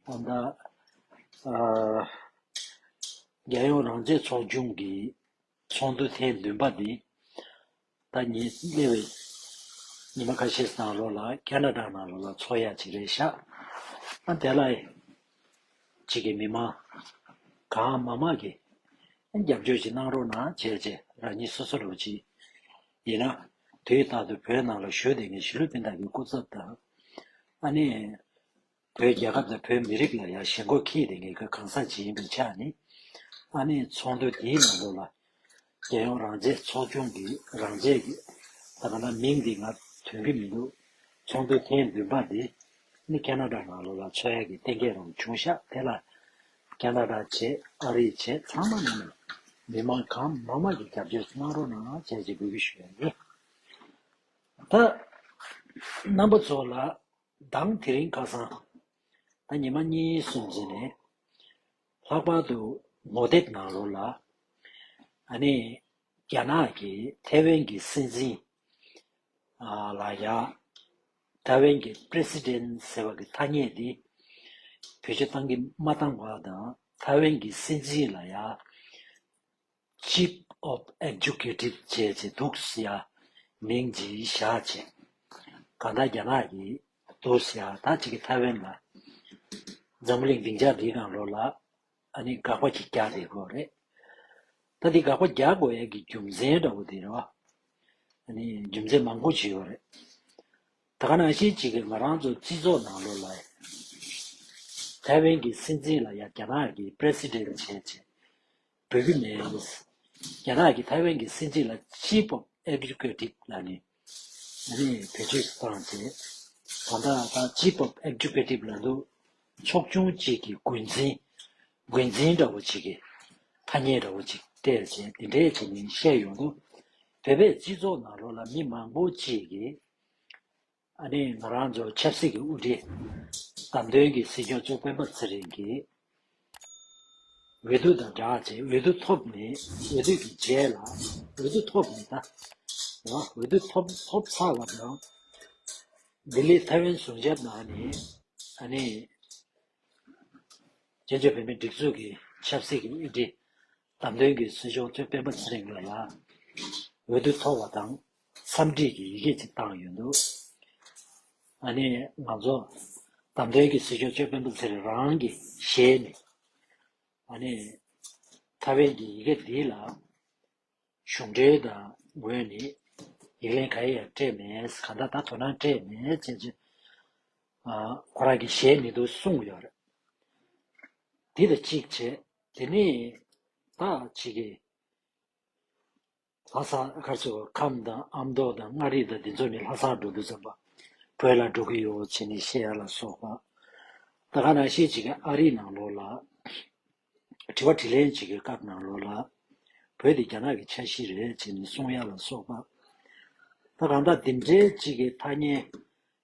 ད་ལྟ་རྒྱལ་ཡོངས་རང་བཙན་ཚོགས་ཆུང་གི་ཚོགས་འདུ་ཐེངས་བདུན་པ་དེ་ད་ཉེ་སླེ་བའི་ཉི་མ་ཁ་ཤས་ནང་ལོགས་ལ་ཀ་ན་ཀྲ་ནང་ལོགས་ལ་ཚོགས་ཡ་གཅིག་རེད་ཤག་ཨ་དེ་ལ་གཅིག་གི་མི་མང་གང་མང་མང་གི་རྒྱབ་སྐྱོར་གཅིག་གནང་རོགས་གནང་བྱས་བྱས་རང་ཉིད་སོ་སོ་རོགས་གཅིག་ཡིན་ན་དུས་རྟག་ཏུ་བོད་ནང་ལ་བཞུགས་དེ་ནས་ཞི་ལུ་པིན་དག་གི་སྐུ་ཚབ་དང་ཨ་ནེ་བོད་རྒྱལ་ཁབ་དང་བོད་མི་རིགས་ལ་ཡང་ཞེན་ཁོག་ཁེལ་ཡོད་པའི་ངེས་ཁོལ་གང་ཟག་ཅིག་ཡིན་པའི་ཆ་ནས། ཨ་མའི་ཚོགས་འདུ་དེའི་ནང་དུ་ལ་རྒྱལ་ཡོངས་རང་བཙན་ཚོགས་ཆུང་གི་རང་བཙན་གྱི། ད་ག་ན་མིང་འདི་ང་དོན་གྱི་མི་འདུག་ཚོགས་འདུ་ཐེངས་བདུན་པ་འདི་ནི་ཀ་ན་ཀྲ་ནང་ལོ་ལ་འཚོལ་ཡ་གི་གཏན་འཁེལ་རང་བྱུང་ཤག་དེ་ལ་ཀ་ན་ཀྲ་བྱེད་ཨ་རི་བྱེད་ཚང་མ་ནང་ནས་མི་མང་གང་མང་མང་གིས་རྒྱབ་སྐྱོར་གནང་རོགས་གནང་བྱས་ཅེས་འབོད་སྐུལ་ཞུ་ཡ་ཡིན། ད་རྣམ་པ་ཚོ་ལ། གདངས་དེ་རིང་ཁ་སང་ད་ཉི་མ་གཉིས་སུམ་བརྩེགས་ནས་ལྷག་པར་དུ་ངོ་དེབ་ནང་ལོགས་ལ་ཨ་ནེ་རྒྱ་ནག་གི་ཐེ་ཝན་གྱི་སྲིད་འཛིན་ལ་ཡ། Taiwan གྱི President ཟེར་བ་གི་ཐ་སྙད་དེ་བོད་ཆས་བཏང་གི་མ་བཏང་བ་དང་ཐེ་ཝན་གྱི་སྲིད་འཛིན་ལ་ཡ། Chief of Executive བཅས་ཀྱི་ཏུའུ་སི་ཡཱ་མིང་བརྗིད་བཞག་ཅིང། གང་ལྟར་རྒྱ་ནག་གི་ཏུའུ་སི་ཡཱ་དག་ཅིག་གིས་ཐའེ་ཝན་ལ་འཛམ་བུ་གླིང་སྡིངས་ཆར་འདིའི་སྒང་ལོགས་ལ་དགག་པ་ཅིག་རྒྱག་རེ་དགོས་རེད། ད་འདི་དགག་པ་རྒྱག་དགོས་ཡས་ཀྱི་རྒྱུ་མཚན་འདྲ་བོ་དེ་རེད་བ། རྒྱུ་མཚན་མང་པོ་ཅིག་ཡོད་རེད། ད་ག་ནང་ཤེས་ཅིག་གིས་ང་རང་ཚོ་སྤྱི་ཚོགས་ནང་ལོགས་ལ་ཐའེ་ཝན་གྱི་སྲིད་འཛིན་ལ་ཡ་རྒྱ་ནག་གི president བྱས་རྗེས་བོད་ཀྱི་ནས་རྒྱ་ནག་གི་ཐའེ་ཝན་གྱི་སྲིད་འཛིན་ལ་སྤྱི་པོ་ཨེ་བི་ཀོས་ཏིག་ལ་ནས་བོད་ཕྱི་སུ་ཐང་ཆེ་ད་ལྟ་ད་སྤྱི་པོ་ཨེ་བི་ཀོས་ཏིག་ལ་འདུག་ཕྱོགས་ཆུང་གཅིག་གི་རྒོལ་འཛིན་རྒོལ་འཛིན་འདྲ་བོ་ཅིག་གིས་ཐ་སྙད་འདྲ་བོ་ཅིག་སྤྲད་བྱས་འདི་འདྲས་བྱས་མིན་བཤད་ཡོང་དུ་བོད་པའི་སྤྱི་ཚོགས་ནང་རོ་ལ་མི་མང་པོ་ཅིག་གིས། ཨ་ནེ་ང་རང་ཚོ་ཆབ་སྲིད་ཀྱི་དབུ་ཁྲིད་བདམས་ཐོན་གྱི་སྲིད་སྐྱོང་གཙོ་སྤེན་པ་ཚེ་རིང་གིས། འོས་བསྡུ་དང་སྦྲགས་ཚེ་འོས་བསྡུ་ཐོབ་མེད་འོས་བསྡུ་གྱི་རྗེས་ལ་འོས་བསྡུ་ཐོབ་མེད་ད། འོས་བསྡུ་ཐོབ་ཐོབ་ཚར་བ་དང། ལྡི་ལི་ཐའེ་ཝན་ཟུང་ཆབ་ནང་ནས་ཨ་ནེ། བཙན་བྱོལ་བོད་མིའི་སྒྲིག་འཛུགས་ཀྱི་ཆབ་སྲིད་ཀྱི་དབུ་ཁྲིད་བདམས་ཐོན་གྱི་སྲིད་གཞུང་གཙོས་སྤེན་པ་ཚེ་རིང་ལགས་ལ་འོས་བསྡུ་ཐོབ་པ་དང་འཚམས་འདྲིས་ཀྱི་ཡི་གེ་ཅིག་བཏང་ཡོད་འདུག་ཨ་ནི་ང་ཚོ་བདམས་ཐོན་གྱི་སྲིད་གཞུང་གཙོས་སྤེན་པ་ཚེ་རིང་རང་གི་ཞལ་ནས་ཨ་ནི་ཐ་བན་གྱི་ཡི་གེ་འདི་ལ་གཞུང་འབྲེལ་དང་ངོས་ནས་ཡིག་ལན་ག་ཡ་ཡང་སྤྲད་མེད་གང་ལྟར་ད་དོ་སྣང་སྤྲད་མེད་ཅེས་ཀྱི་ཁོ་རང་གི་ཞལ་ནས་དུ་གསུངས་ཡོད་རེད་འདི་དང་གཅིག་བྱས་དེ་ནས་ད་ཅི་གི། ལྷ་ས་སྒར་ཚོ་ཁམས་དང་ཨ་མདོ་དང་མངའ་རིས་དང་དེ་ཚོ་ནི་ལྷ་སར་འགྲོ་འདོད་ཙམ་པ། བོད་ལ་འགྲོ་གི་ཡོད་ཅེས་ནི་བཤད་ཡ་ལ་སོགས་པ། ད་ག་ནང་བཤད་ཅིག་ཨ་རིའི་ནང་ལོག་ལ། དྲི་བ་དྲི་ལན་ཅིག་གི་སྐབས་ནང་ལོག་ལ། བོད་དེ་རྒྱ་ནག་གི་ཆ་གཞི་རེད་ཅེས་ནི་གསུང་ཡ་ལ་སོགས་པ། ད་གང་ལྟར་འདི་འདྲའི་ཅིག་གི་ཐ་སྙད།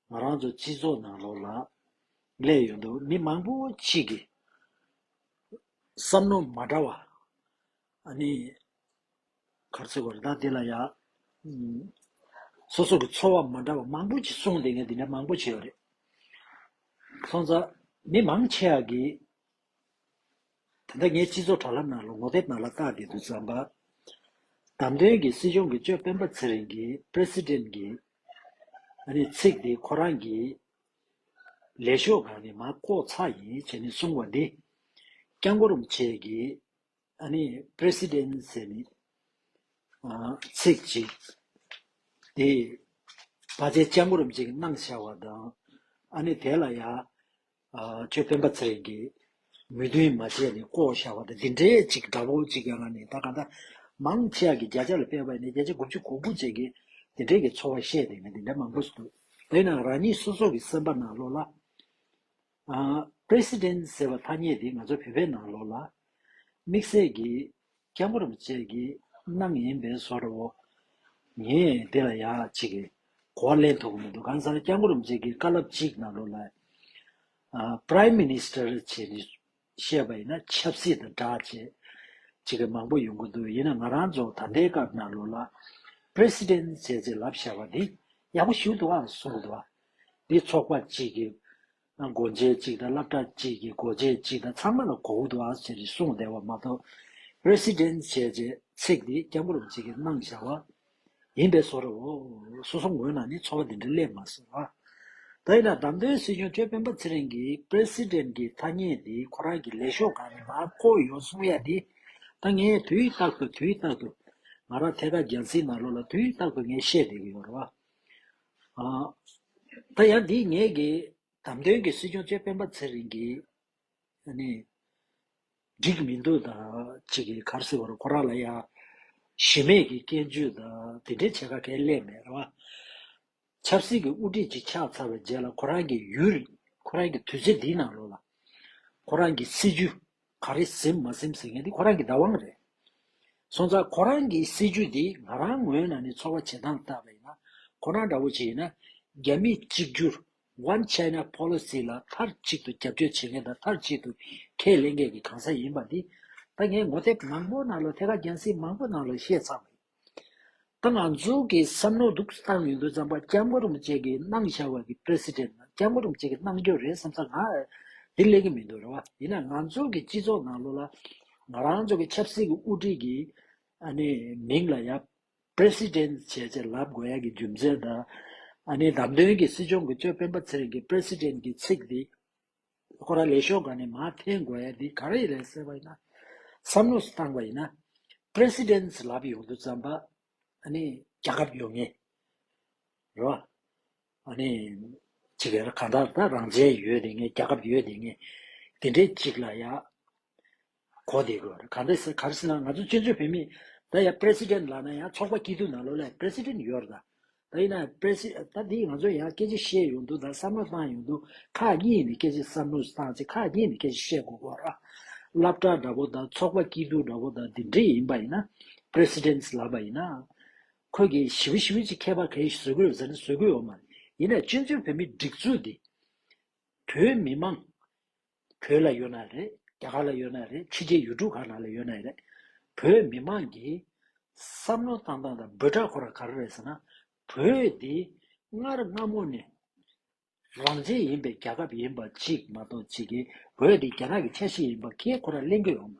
ང་རང་ཚོ་སྤྱི་ཚོགས་ནང་ལོག་ལ། གླས་ཡོད་འདུག་མི་མང་པོ་ཅིག་གིས། བསམ་མནོ་མ་འདྲ་བ། ནི། གར་ཚེ་བར་དག་དེ་ལ་ཡ། སོ་སོ་གི་ཚོར་བ་མ་འདྲ་བ་མང་པོ་ཅིག་གསུངས་འདི་ངས་འདི་འདྲ་མང་པོ་བྱས་པ་རེད། ཚང་ཚ། མི་མང་ཆེ་བ་གིས། ད་ལྟ་ངས་སྤྱི་ཚོགས་དྲ་ལམ་ནང་ལ་ངོ་དེབ་ནང་ལ་བལྟ་བསྡད་འདུག་ཙམ་པ། བདམས་ཐོན་གྱི་སྲིད་སྐྱོང་གི་ཅོ་སྤེན་པ་ཚེ་རིང་གིས president གི། ནི་ཚིག་དེ་ཁོ་རང་གིས། ལས་ཤོག་གང་ནི་མ་བཀོག་ཚ་ཡིན་བྱས་ནས་གསུང་བ་འདི། སྐྱབས་འགོ་རུམ་བྱེད་ཀྱི། ཨ་ནི President ཟེར་ནི། ཚིག་ཅིག། དེ། བ་ཚའི་སྐྱབས་འགོ་རུམ་བྱེད་ཀྱི་གནང་བྱ་བ་དང། ཨ་ནི་དེ་ལ་ཡ། ཁྱོད་སྤེན་པ་ཚེ་རིང་གིས། མོས་མཐུན་མ་བྱས་ནས་བསྐོ་བཞག་བ་དང་འདི་འདྲའི་ཅིག་འདྲ་བོ་ཅིག་ཡོད་ན་ནི་ད་ག་ད། མང་ཆེ་བ་གིས་བརྒྱ་ཆ་ལ་དཔེ་བས་ནས་བརྒྱ་ཆ་དགུ་བཅུ་གོ་དགུ་བཅས་ཀྱིས་འདི་འདྲའི་གི་ཚོར་བ་བཤད་དེ་ནི་འདི་འདྲ་མང་པོ་ཞིག་འདུག་དེ་ན་རང་ཉིད་སོ་སོ་གི་སེམས་པ་ནང་ལོགས་ལ། President ཟེར་བ་ཐ་སྙད་འདི་ང་ཚོ་བོད་པའི་ནང་ལོགས་ལ། དམིགས་བསལ་གི། སྐྱབས་མགོན་རིན་པོ་ཆེ་གི་གནང་ཡིན་པས་བཟོ་རོ། ངས་འདི་ལ་ཡག་ཅིག་གི་གོ་བ་ལེན་ཐུབ་ཀྱི་མི་འདུག་གང་ཟག་སྐྱབས་མགོན་རིན་པོ་ཆེ་གི་བཀའ་སླབ་ཅིག་ནང་ལོགས་ལ། Prime Minister བྱས་ནས་བཤད་པ་ཡིན་ན་ཆབ་སྲིད་དང་དྲག་བཅས་བྱེད་མཁན་མང་པོ་ཡོང་གི་འདུག་ཡིན་ན་ང་རང་ཚོ་ད་ལྟའི་སྐབས་ནང་ལོགས་ལ President བྱས་ཚེ་ལབ་བྱ་བ་འདི་ཡག་པོ་ཞུ་འདུག་ཨང་གསུང་གི་འདུག་བ། འདི་ཚོགས་པ་གཅིག་གི་སྒོ་འབྱེད་གཅིག་དང་བསླབ་གྲྭ་གཅིག་གི་སྒོ་འབྱེད་གཅིག་དང་ཚང་མ་ལ་གོ་བོ་འདུག་ཨང་ཟེར་ནས་གསུང་བསྡད་པ་མ་གཏོགས President བྱས་ཚེ་ཚིག་འདི་སྐྱབས་འགོ་རུ་བྱེད་མཁན་སྣང་བྱ་བ། ཡིན་པས་སོ། སོ་སོ་ངོས་ནང་ནས་ཚོར་བ་འདི་འདྲ་སླེབས་མ་སོང་ལ། ད་ཡིན་ན་བདམས་ཐོན་སྲིད་སྐྱོང་ཁྱོད་སྤེན་པ་ཚེ་རིང་གི President གི་ཐ་སྙད་དེ་ཁོ་རང་གི་ལས་ཤོག་གང་ནས་མ་བསྐོ་ཡོང་གསུང་ཡ་ནི། ད་ངས་དུས་རྟག་ཏུ་དུས་རྟག་ཏུ། ང་རང་ཐད་ཀར་རྒྱལ་སྲིད་ནང་ལོག་ལ་དུས་རྟག་ཏུ་ངས་བཤད་བསྡད་ཀྱི་ཡོད་རེད། ད་ཡང་འདི་ངེད་ཀྱི་བདམས་ཐོན་གྱི་སྲིད་སྐྱོང་ཁྱོད་སྤེན་པ་ཚེ་རིང་གི། འགྲིག་མི་འདུག་ད་ཅིག་གིས་གར་སེ་བར་ཁོ་རང་ལ་ཡང་གཞི་མེད་ཀྱི་སྐྱོན་བརྗོད་དང་དེ་འདྲའི་བྱེད་ཁ་གལ་སླད་མེད་རེད་བ། ཆབ་སྲིད་ཀྱི་དབུ་ཁྲིད་ཅིག་ཆགས་ཚར་བའི་རྗེས་ལ་ཁོ་རང་གི་ཡུལ་ཁོ་རང་གི་དུས་ཚོད་འདིའི་ནང་ལོག་ལ། ཁོ་རང་གི་སྲིད་ཇུས་ག་རེ་ཟིན་མ་ཟིན་ཟེར་མཁན་དེ་ཁོ་རང་གི་བདག་དབང་རེད། སོང་ཙང་ཁོ་རང་གི་སྲིད་ཇུས་དེ་ང་རང་ངོས་ནང་ནས་ཚོར་བ་བྱེད་སྟངས་ལྟར་ཡིན་ན་ཁོ་རང་འདྲ་བོ་ཅིག་ཡིན་ན་རྒྱ་མིས་གཅིག་གྱུར One China Policy། ལ་མཐར་གཅིག་ཏུ་རྒྱབ་སྐྱོར་བྱེད་མཁན་དང་མཐར་གཅིག་ཏུ་ཁས་ལེན་མཁན་གྱི་གང་ཟག་ཡིན་པ་འདི། ད་ངས་ངོ་དེབ་མང་པོ་ནང་ལ་ཐད་ཀར་རྒྱང་སྲིང་མང་པོ་ནང་ལ་བཤད་ཚར་བ་ཡིན། ད་ང་ཚོ་གི་བསམ་མནོ་འདུག་བཏང་ཡོད་འདུག་བརྩམས་པ་སྐྱབས་མགོ་རུམ་བཅས་ཀྱི་གནང་བཞག་བ་གི President ལ་སྐྱབས་མགོ་རུམ་བཅས་ཀྱི་གནང་རྒྱུ་རེད་བསམ་ས་ང་འདི་གླེང་གི་མི་འདུག་རེད་བ། ཡིན་ན་ང་ཚོ་གི་སྤྱི་ཚོགས་ནང་ལོ་ལ་ང་རང་ཚོ་གི་ཆབ་སྲིད་ཀྱི་དབུ་ཁྲིད་ཀྱི་ནི་མིང་ལ་ཡབ། President། བྱས་ཚེ་ལབ་དགོས་ཡག་གི་རྒྱུ་མཚན་དང། ཨ་ནི་བདམས་ཐོན་གྱི་སྲིད་སྐྱོང་གི་ཅོ་སྤེན་པ་ཚེ་རིང་གི President གི་ཚིག་འདི། ཁོ་ར་ལས་ཤོག་ག་ནས་མ་འཐེན་དགོས་ཡག་འདི་ག་རེད་རེད་ཟེར་བ་ཡིན་ན། བསམ་བློ་སུ་བཏང་བ་ཡིན་ན། President ལབ་ཡོང་དུ་བརྩམས་པ། ཨ་ནི་རྒྱ་ཁབ་ཡོང་ངེས། རེད་བ། ཨ་ནི། ཇི་དགེ་ལ་གང་དག་ད་རང་བྱས་ཡོད་དེ་ངས་རྒྱ་ཁབ་ཡོད་དེ་ངས། དེ་འདྲའི་ཅིག་ལ་ཡ། གོ་དེ་གོ་གང་དེ་ཟེར་གར་སེ་ན་ང་ཚོ་སྤྱི་མཚོས་བོད་མི། ད་ཡ president ལགས་ན་ཡ་ཚོགས་པ་སྐྱིད་སྡུག་ན་ལོ་ལས president ཡོར་ད། ད་ཡིན་ན presid ད་དེ་ང་ཚོ་ཡ་སྐད་ཅིག་བཤད་ཡོང་དུ་ད་བསམ་བློ་བཏང་ཡོང་དུ་ཁ་གཉིས་ནས་སྐད་ཅིག་བསམ་བློ་བཏང་ཚེ་ཁ་གཉིས་ནས་སྐད་ཅིག་བཤད་དགོས་གོ་ར། བླ་བྲག་འདྲ་པོ་ད་ཚོགས་པ་སྐྱིད་སྡུག་འདྲ་པོ་ད་དེ་འདྲའི་ཡིན་པ་ཡིན་ན presidents ལགས་པ་ཡིན་ན། ཁོས་གིས་ཞི་བི་ཞི་བི་ཅི་ཁྱད་པར་ག་ཡིས་བཟོད་དགོས་ཟེར་ན་བཟོད་དགོས་ཡོད་མ་རེད། ཡིན་ནའི་སྤྱི་མཚུངས་བོད་མི་སྒྲིག་འཛུགས་འདི། བོད་མི་མང། བོད་ལ་ཡོད་ན་རེད་རྒྱ་གར་ལ་ཡོད་ན་རེད་ཕྱི་རྒྱལ་ཡུལ་གྲུ་ག་ན་ལ་ཡོད་ན་རེད། བོད་མི་མང་གིས། བསམ་བློ་བཏང་སྟངས་དང་འབོད་སྒྲ་གོ་ར་ག་ར་རེད་ཟེར་ན། བོད་འདི་སྔར་སྔ་མོ་ནས། རང་བཙན་ཡིན་པའི་རྒྱལ་ཁབ་ཡིན་པ་གཅིག་མ་གཏོགས་ཕྱི་རྒྱལ་བོད་དེ་རྒྱ་ནག་གི་ཆ་ཤས་ཡིན་པ་ཁྱེད་ཁོ་ན་གླེང་གི་ཡོང།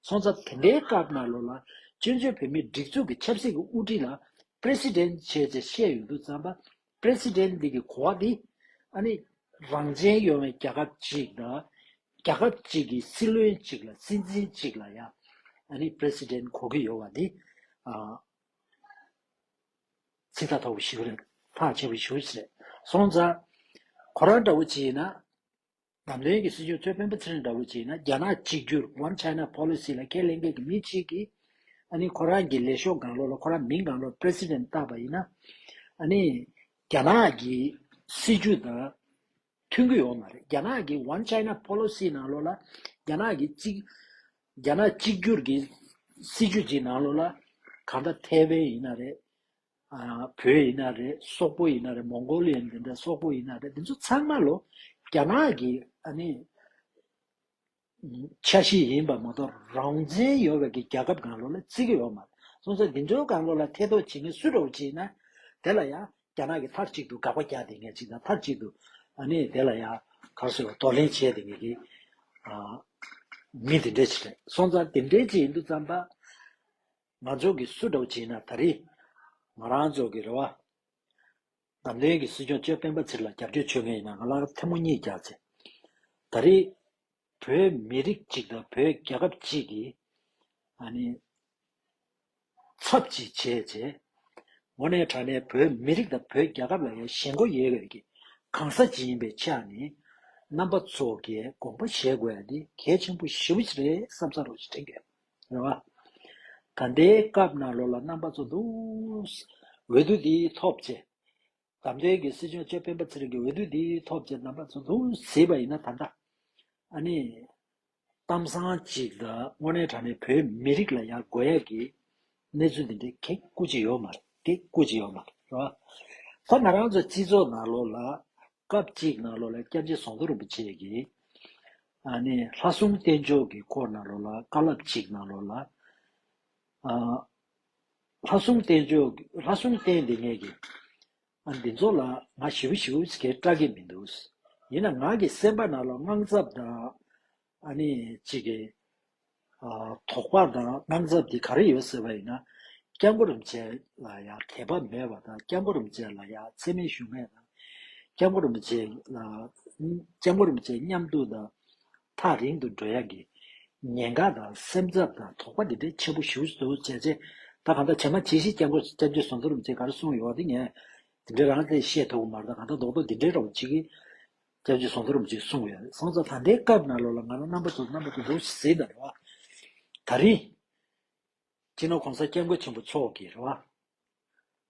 སོང་ཙང་དེ་འདྲའི་སྐབས་ན་ལོ་ལ་བཙོན་བྱོལ་བོད་མིའི་སྒྲིག་འཛུགས་ཀྱི་ཆབ་སྲིད་ཀྱི་དབུ་ཁྲིད་ལ President བྱས་ཚེ་བཤད་ཡོད་འདུག་ཙམ་པ President འདི་གི་གོ་བ་འདི་ཨ་ནི་རང་བཙན་ཡོང་བའི་རྒྱལ་ཁབ་གཅིག་དང་རྒྱལ་ཁབ་གཅིག་གི་སྲིད་བློན་གཅིག་ལ་སྲིད་འཛིན་གཅིག་ལ་ཡང་ཨ་ནི President གོ་གི་ཡོང་བ་འདི་ཨ། ཚིག་ཐ་དོག་པའི་ཞིག་རེད། ཐག་ཆད་པའི་ཞུས་རེད། སོང་ཙང། ཁོ་རང་འདྲ་བོ་བྱས་ན། ནམ་རྒྱུན་གྱི་སྲིད་སྐྱོང་གཙོས་དཔོན་པོ་ཚེ་རིང་འདྲ་བོ་བྱས་ན་རྒྱ་ནག་གཅིག་གྱུར One China Policy ལ་ཁས་ལེན་མཁན་གྱི་མི་གཅིག་གིས་ཨ་ནི་ཁོ་རང་གི་ལས་ཤོག་གང་ལོག་ལ་ཁོ་རང་མིང་གང་ལོག President བཏགས་པ་ཡིན་ན། ཨ་ནི་རྒྱ་ནག་གི་སྲིད་བྱུས་དང། ཐོན་གྱི་ཡོད་མ་རེད། རྒྱ་ནག་གི One China Policy ནང་ལོགས་ལ་རྒྱ་ནག་གི་གཅིག་རྒྱ་ནག་གཅིག་གྱུར་གྱི་སྲིད་ཇུས་ཀྱི་ནང་ལོགས་ལ་གང་ལྟར་ཐའེ་ཝན་ཡིན་ན་རེད། བོད་ཡིན་ན་རེད་སོག་པོ་ཡིན་ན་རེད་མོང་གོ་ལི་ཡན་དེ་འདྲ་སོག་པོ་ཡིན་ན་རེད་དེ་ཚོ་ཚང་མ་ལོ་རྒྱ་ནག་གི་ཨ་ནི། ཆ་བཞི་ཡིན་པ་མ་གཏོགས་རང་བཙན་ཡོད་བའི་གི་རྒྱལ་ཁབ་གང་ལོ་ལ་བརྩི་གི་ཡོད་མ་རེད་སོང་ཚེ་དེ་འདྲའི་གང་ལོ་ལ་ཐེ་གཏོགས་བྱེད་མཁན་སུ་རེད་བ་བྱེད་ན་དེ་ལ་ཡང་རྒྱ་ནག་གི་མཐར་གཅིག་ཏུ་དགག་པ་རྒྱག་དེ་ངས་གཅིག་དང་མཐར་གཅིག་ཏུ་ཨ་ནི་དེ་ལ་ཡང་གར་སོ་བ་དོ་ལེན་བྱས་དེ་ངས་གི་ཨ་མི་དེ་འདྲའི་བྱེད་རེད་སོང་ཙང་དེ་འདྲའི་བྱེད་ཡིན་དུ་ཙམ་པ་ང་ཚོ་གི་སུ་རེད་བ་བྱེད་ན་ད་རེས་ང་རང་ཚོ་གི་རེད་བ། ནམ་ལེན་གྱི་སྲིད་སྐྱོང་ཅོ་སྤེན་པ་ཚེ་ལ་རྒྱབ་སྐྱོར་བྱོས་མཁན་ཡིན་ན་ང་ལ་ཐལ་མོ་གཉིས་རྒྱག་ཚེ། ད་རེས་བོད་མི་རིགས་གཅིག་དང་བོད་རྒྱལ་ཁབ་གཅིག་གི། ཨ་ནི། ཚབ་ཅིག་བྱས་ཚེ། འོ་ནས་དྲ་ནས་བོད་མི་རིགས་དང་བོད་རྒྱལ་ཁབ་ལ་ཡ་ཞེན་སྒོ་ཡེ་བའི་གི་གང་ཟ་ཅིག་ཡིན་པའི་ཆ་ནི། རྣམ་པ་ཚོ་གས་དགོངས་པ་བཞེས་དགོས་ཡ་འདི་གལ་ཆེན་པོ་ཞིབ་རེད་བསམ་ས་རོགས་ཞེ་དྲིན་གས། རེ་བ། ད་ལྟའི་སྐབས་ནང་ལོགས་ལ་རྣམ་པ་ཚོགས་འདུག། འོས་བསྡུ་འདི་ཐོབ་ཆེད། དམ་དོན་གྱི་སྲིད་སྐྱོང་ཅོ་སྤེན་པ་ཚེ་རིང་གིས་འོས་བསྡུ་འདི་ཐོབ་ཆེད་རྣམ་པ་ཚོགས་འདུག་ཟེར་བ་ཡིན་ན་ད་ལྟ། ཨ་ནི། གཏམ་བཟང་གཅིག་ལ་དངོས་གནས་དྲང་གནས་བོད་མི་རིགས་ལ་ཡང་དགོས་ཡག་གི་གནས་ཚུལ་འདི་འདྲའི་གེགས་བཀུར་ཅི་ཡོད་མ་རེད། རེ་བ། ད་ང་རང་ཚོ་སྤྱི་ཚོགས་ནང་ལོགས་ལ་སྐབས་གཅིག་ན་ལོ་ལ་སྐྱབས་རྗེ་ཟོང་ཐོ་རིན་པོ་ཆེ་གིས། ནི་ལྷ་གསུམ་རྟེན་མཆོག་གི་སྐོར་ན་ལོ་ལ་བཀའ་བསླབ་གཅིག་ན་ལོ་ལ། ལྷ་གསུམ་རྟེན་མཆོག་ལྷ་གསུམ་རྟེན་འདི་ངེད་ཀྱི། འདི་ཚོ་ལ་ང་ཞིབ་ཞིབ་ཀྱིས་སྐྲག་གི་མི་འདུག། ཡིན་ན་ང་གི་སེམས་པ་ན་ལོ་དངངས་འཚབ་དང། ཨ་ནི་གཅིག་གིས། དོགས་པ་དང་སྣང་ཚབ་དེ་ག་རེ་ཡོད་ཟེར་བ་ཡིན་ན། སྐྱབས་འགྲོ་རིན་ཆེན་ལ་ཡང་དད་པ་མེད་པ་དང་སྐྱབས་འགྲོ་རིན་ཆེན་ལ་ཡང་འཚེ་མེད་ཞུམ་མེད་དང། སྐྱབས་འགྲོ་རིན་ཆེན་ལ། སྐྱབས་འགྲོ་རིན་ཆེན་མཉམ་འདུག་དང། ཐག་རིང་དུ་འགྲོ་ཡག་གི། ཉེན་ཁ་དང་སེམས་འཚབ་དང་དོགས་པ་འདི་འདྲའི་ཆེན་པོ་ཞུ་འདུག་བྱས་རྗེས་ད་གང་ལྟར་བྱས་མ་བྱས་ཤིག་སྐྱབས་འགྲོ་སྐྱབས་རྗེ་ཟོང་ཚོ་རིན་ཆེན་ག་རེ་གསུངས་ཡོད་དེ་ངས་དེ་འདྲའི་རང་བཙན་བཤད་ཐུབ་གི་མ་རེད་ད་གང་ལྟར་རྡོག་རྡོག་འདི་འདྲའི་རོགས་བྱེད་ཀྱི། སྐྱབས་ཀྱི་གཟུངས་ཐོར་འཇིགས་གསུང་བའི་གསང་རྫོགས་ད་ལྟའི་སྐབས་ན་ལོ་ལ་ང་རང་རྣམ་པ་ཚོ་རྣམ་པ་ཚོ་འདུག་ཟེར་ན་རེ་བ། ད་རིང། སྤྱིར་ན་གོང་ས་སྐྱབས་མགོན་ཆེན་པོ་མཆོག་གིས་རེ་བ།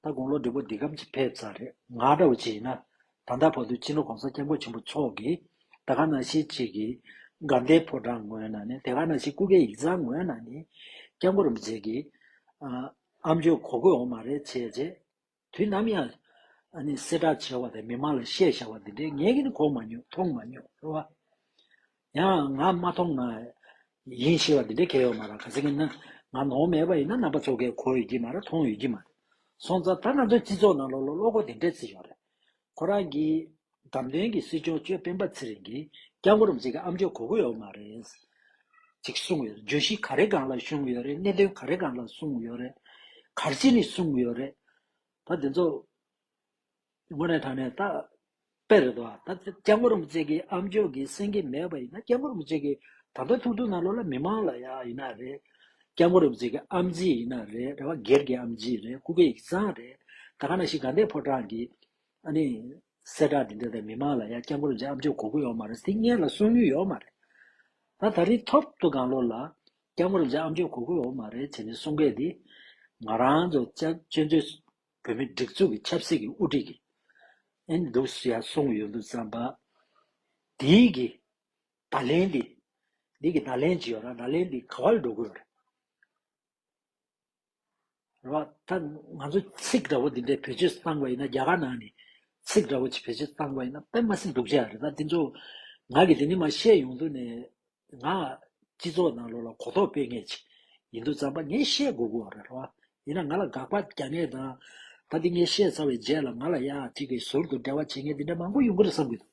ད་དགུང་ལོ་འབྲས་བུ་འདི་སྐམ་གྱི་ཕེབས་ཚར་རེད་ང་འདྲ་བོ་ཅིག་ཡིན་ན། ད་ལྟ་བར་དུ་སྤྱིར་ན་གོང་ས་སྐྱབས་མགོན་ཆེན་པོ་མཆོག་གིས་ད་ག་ན་ཞིག་ཅིག་གི་དགའ་ལྡན་ཕོ་བྲང་ངོས་ན་ནི་དེ་ག་ན་ཞིག་སྐུ་སྒེར་ཡིག་ཚང་ངོས་ན་ནི་སྐྱབས་མགོན་རིན་པོ་ཆེ་གིས་ཨ་ཨམ་ཆོས་གོ་དགོས་འོང་མ་རེད་བྱས་རྗེས། དུས་ནམ་ཡང་གསལ་བསྒྲགས་བྱས་བ་དང་མི་མང་ལ་བཤད་བྱ་བ་འདི་འདྲའི་ངས་ཀྱང་གོ་མ་མྱོང་མཐོང་མ་མྱོང་ཟེར་བ། ཡང་ང་མ་མཐོང་ན་ཡིན་ཞེས་བ་འདི་འདྲའི་སྐད་ཡོད་མ་རང་ག་ཟེ་གི་ན། ང་ནོར་མེད་པ་ཡིན་ན་ནང་པ་ཚོ་གས་གོ་ཡོད་ཀྱི་མ་རང་མཐོང་ཡོད་ཀྱི་མ་རེད་སོང་ཙང་ད་ང་ཚོའི་སྤྱི་ཚོགས་ནང་ལོག་ལོག་གློག་གོ་འདི་འདྲའི་ཚིག་ཡོད་རེད་ཁོ་རང་གིས། འདམ་སྟོན་གྱི་སྲིད་སྐྱོང་གཅོད་སྤེན་པ་ཚེ་རིང་གིས་སྐྱག་འགོ་རུ་འཛེག་གི་ཨ་མཆོག་གོ་དགོས་ཡོག་མ་རེད། ཅིག་གསུངས་ཡོད་རེད་བརྗོད་གཞི་ག་རེ་གང་ལ་བཤུང་ཡོད་རེད་གནད་དོན་ག་རེ་གང་ལ་གསུངས་ཡོད་རེད། གར་ཅི་ནས་གསུངས་ཡོད་རེད། ད་དེ་ཚོ། ངོ་ནས་དྲང་ནས་ད། དཔེ་རེད་དོ། ད་སྐྱག་འགོ་རུ་འཛེག་གི་ཨ་མཆོག་གིས་སེང་གེ་མེད་པ་ཡིན་ན་སྐྱག་འགོ་རུ་འཛེག་གི་ད་ཕན་ཐུག་ཐུག་ནང་ལོག་ལ་མི་མང་ལ་ཡ་ཡིན་ན་རེད། སྐྱབས་མགོན་རབ་མཛེས་ཀྱི་ཨམ་རྗེས་ཡིན་ན་རེད་རེད་བ་སྒེར་གྱི་ཨམ་རྗེས་རེད་སྐུ་སྒེར་ཡིག་ཚང་རེད་ད་ག་ན་ཞིག་དགའ་ལྡན་ཕོ་བྲང་གི་ཨ་ནི་གསལ་བསྒྲགས་འདི་འདྲ་དང་མི་མང་ལ་ཡང་སྐྱབས་མགོན་རབ་མཛེས་ཨམ་རྗེས་གོ་གི་ཡོད་མ་རེད་སིང་ངེར་ལ་གསུང་རྒྱུ་ཡོད་མ་རེད་ད་ད་རིང་ཐོབ་ཐོ་གང་ལོ་ལ་སྐྱབས་མགོན་རབ་མཛེས་ཨམ་རྗེས་གོ་གི་ཡོད་མ་རེད་བྱས་ནས་གསུང་སྐད་འདི་ང་རང་ཚོ་བཅའ་བཅོས་མཛོད་བོད་མི་སྒྲིག་འཛུགས་ཀྱི་ཆབ་སྲིད་ཀྱི་དབུ་ཁྲིད་ཀྱི་ཨེ་འདུག་སུ་ཡང་གསུང་གི་ཡོད་འདུག་བསམ་པ་དེའི་གི་བརྡ་ལན་འདི། འདི་གི་བརྡ་ལན་ཇི་ཡོད་ན་བརྡ་ལན་འདི་ག་བ་ལ་འགྲོ་དགོས་པ་རེད། རེད་བ། ད་ང་ཚོ་ཚིག་འདྲ་བོ་འདི་འདྲས་བེད་སྤྱོད་བཏང་བ་ཡིན་ན་རྒྱ་གར་ནང་ནས་ཚིག་འདྲ་བོ་ཅིག་བེད་སྤྱོད་བཏང་བ་ཡིན་ན་དཔེ་མ་སྲིད་འགྲུག་བྱས་རེད་ད་དེ་ཚོ་ང་གིས་དེ་ནི་མ་བཤད་ཡོང་དུས་ནས་ང་སྤྱི་ཚོགས་ནང་ལོགས་ལ་གོ་རྟོགས་སྤེལ་ངེས་ཅིག་ཡིན་དུས་ཙམ་པ་ངས་བཤད་དགོས་དགོས་བ་རེད་རེད་བ། ཡིན་ན་ང་ལ་དགག་པ་རྒྱག་ངེས་དང། ད་འདི་ངས་བཤད་ཚར་བའི་རྗེས་ལ་ང་ལ་ཡག་ཅིག་གིས་ཟུར་དུ་འབྲེལ་བ་བྱེད་མཁན་འདི་འདྲ་མང་པོ་ཡོང་གི་རེད་བསམ་གྱི་འདུག།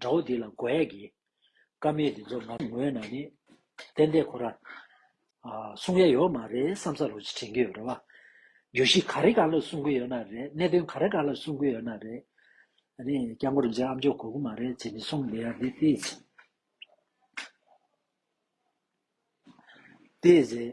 དགྲ་བོ་འདི་ལ་རྒོལ་ཡ་གི། བཀའ་མེད་འདི་ཚོ་ང་ངོས་ན་ནི། བསྟན་དེ་ཁོ་ར། གསུང་ཡ་ཡོད་མ་རེད་བསམ་ས་རུ་དྲན་གི་ཡོད་རེད་བ། བརྗོད་གཞི་ག་རེ་ག་ལ་གསུང་གི་ཡོད་ན་རེད་གནད་དོན་ག་རེ་ག་ལ་གསུང་གི་ཡོད་ན་རེད། ཨ་ནི་སྐྱག་མགོ་རིན་ཆེན་ཨ་མཆོག་གོ་གི་མ་རེད་ཅེས་མི་གསུང་དེ་ཡ་དེ་ཏི་ཟེར། ཏི་ཟེར།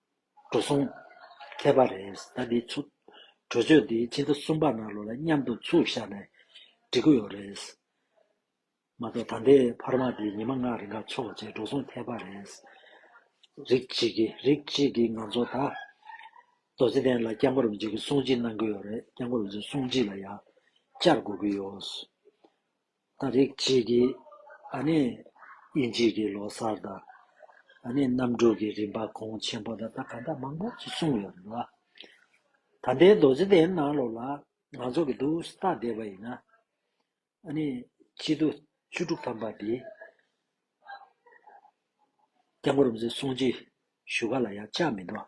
འགྲོ་སོང། ཁྱད་པར་རེས་ད་འདི་ཚུགས། གྲོས་ཆོད་འདི་ཕྱི་ཟླ་གསུམ་པ་ནང་ལོ་ལ་མཉམ་དུ་ཚུགས་བཞག་ནས་འགྲིག་གི་ཡོད་རེད། མ་གཏོགས་ད་ལྟའི་འཕར་མ་འདི་ཉི་མ་ལྔ་རེ་འགའ་ཚོགས་རྗེས་འགྲོ་སོང་ཐེག་པ་རེད། རིགས་གཅིག་གིས་རིགས་གཅིག་གིས་ང་ཚོ་ད། རྡོ་རྗེ་གདན་ལ་སྐྱབས་མགོན་རིན་པོ་ཆེ་གི་གསུང་ཆིངས་གནང་གི་ཡོད་རེད་སྐྱབས་མགོན་རིན་པོ་ཆེ་གསུང་ཆིངས་ལ་ཡང་བསྐྱར་གོ་གི་ཡོད། ད་རེག་བྱེད་ཀྱི་ཨ་ནི་དབྱིན་ཇིས་ཀྱི་ལོ་སར་དང་ཨ་ནི་གནམ་གྲུ་གྱི་རིམ་པ་གོང་ཆེན་པོ་དང་ད་ག་འདྲ་མང་པོ་ཞིག་གསུངས་ཡོད་རེད་ལ། ད་ལྟའི་རྡོ་རྗེ་གདན་ནང་ལོགས་ལ་ང་ཚོ་གི་འདུག་ས་བལྟ་བསྡད་པ་ཡིན་ན། ཨ་ནི་སྤྱི་ལོ་བཅུ་དྲུག་ཐམ་པ་འདིའི་སྐྱབས་མགོན་རབ་འཛིན་སྲུང་བརྩི་ཞུ་ག་ལ་ཡང་བཅག་མི་འདུག་ཨ།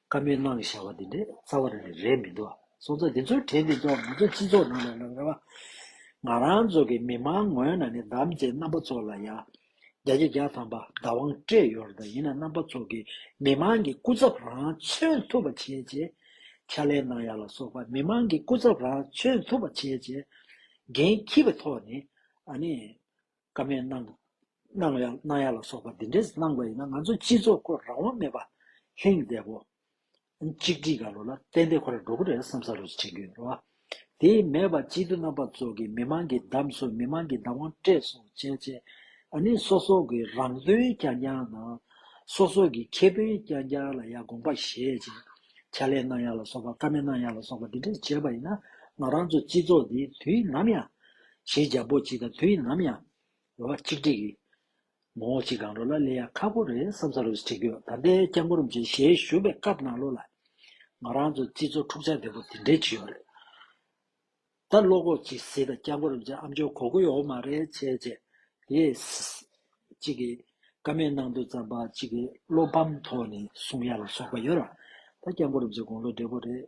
བཀའ་མོལ་གནང་བཞག་པ་འདི་འདྲའི་རྩ་བ་རེད་མི་འདུག་ཨ། སོང་ཙང་འདི་ཚོའི་གྲས་འདི་ཚོ་ང་ཚོའི་སྤྱི་ཚོགས་ནང་ལ་ཡང་རེད་བ། ང་རང་ཚོ་གི་མི་མང་ངོས་ནང་ནས་དམ་བཅའི་རྣམ་པ་ཚོ་ལ་ཡང་རྒྱ་ཆེ་རྒྱ་ཐམ་པ་བདག་དབང་སྤྲད་ཡོད་རེད་ད་ཡིན་ན་རྣམ་པ་ཚོ་གི་མི་མང་གི་སྐུ་ཚབ་རང་མཚོན་ཐུབ་པ་བྱེད་ཅེས་ཕྱག་ལས་གནང་ཡག་ལ་སོགས་པ་མི་མང་གི་སྐུ་ཚབ་རང་མཚོན་ཐུབ་པ་བྱེད་ཅེས་འགན་འཁྱི་བའི་ཐོག་ནས་ཨ་ནི། ཀ་མད་སྣང། སྣང་ཡ་སྣང་ཡ་ལ་སོགས་པ་འདི་འདྲས་སྣང་བ་ཡིན་ན་ང་ཚོ་སྤྱི་ཚོགས་སྐོར་རང་དབང་མེད་པ། ལྷིང་བདེ་བོ། གཅིག་སྒྲིལ་ག་ལོ་ལ་ཏན་ཏན་ཁོ་ར་འགྲོ་གི་རེད་བསམ་ས་རུ་བྱེད་རྒྱུ་ཡིན་རོ། དེ་མེད་པ་སྤྱི་འཐུས་རྣམ་པ་ཚོ་གི་མི་མང་གི་བདམས་གསོལ་མི་མང་གི་བདམས་དབང་སྤྲད་སོང་བྱས་བྱས་ཨ་ནི་སོ་སོ་གི་རང་དོན་རྐྱང་རྐྱང་དང། སོ་སོ་གི་ཁེ་ཕན་རྐྱང་རྐྱང་ལ་ཡ་དགོངས་པ་བཞེས་བྱས་ཕྱ་ལས་སྣང་ཡ་ལ་སོགས་པ་ཀ་མད་སྣང་ཡ་ལ་སོགས་པ་འདི་འདྲས་བྱས་པ་ཡིན་ན་ང་རང་ཚོ་སྤྱི་ཚོགས་འདི་དུས་ནམ་ཡང། གཞི་རྒྱ་བོད་སྤྱི་དང་དུས་ཡིན་ནམ་ཡང། རེ་བ་གཅིག་སྒྲིག་གིས། ངོ་བོ་གཅིག་གང་རུང་ལ་ལས་ཡ་ཁ་པོ་རེ་བསམ་ས་རུ་བྲིས་དགོས་ད་ལྟའི་སྐྱབས་མགོན་རིན་པོ་ཆེ་ཞལ་བཞུགས་པའི་སྐབས་ནང་ལོ་ལ། ང་རང་ཚོ་སྤྱི་ཚོགས་འཁྲུག་ཆ་དེ་པོ་དེ་འདྲའི་བྱུས་ཡོད་རེད། ད་བློ་ཁོག་གཅིག་བཟི་ད་སྐྱབས་མགོན་རིན་པོ་ཆེ་ཨ་མཆོག་གོ་དགོས་ཡོད་མ་རེད་བྱས་བྱས། ཡེས། གཅིག་གིས་ཀ་མེད་གནང་འདུག་ཙམ་པ་གཅིག་གིས་བློ་ཕམ་ཐོག་ནས་གསུང་ཡ་ལ་སོགས་པ་ཡོད་ར། ད་སྐྱབས་མགོན་རིན་པོ་ཆེ་དགུང་ལོ་བགྲེས་པོ་རེད།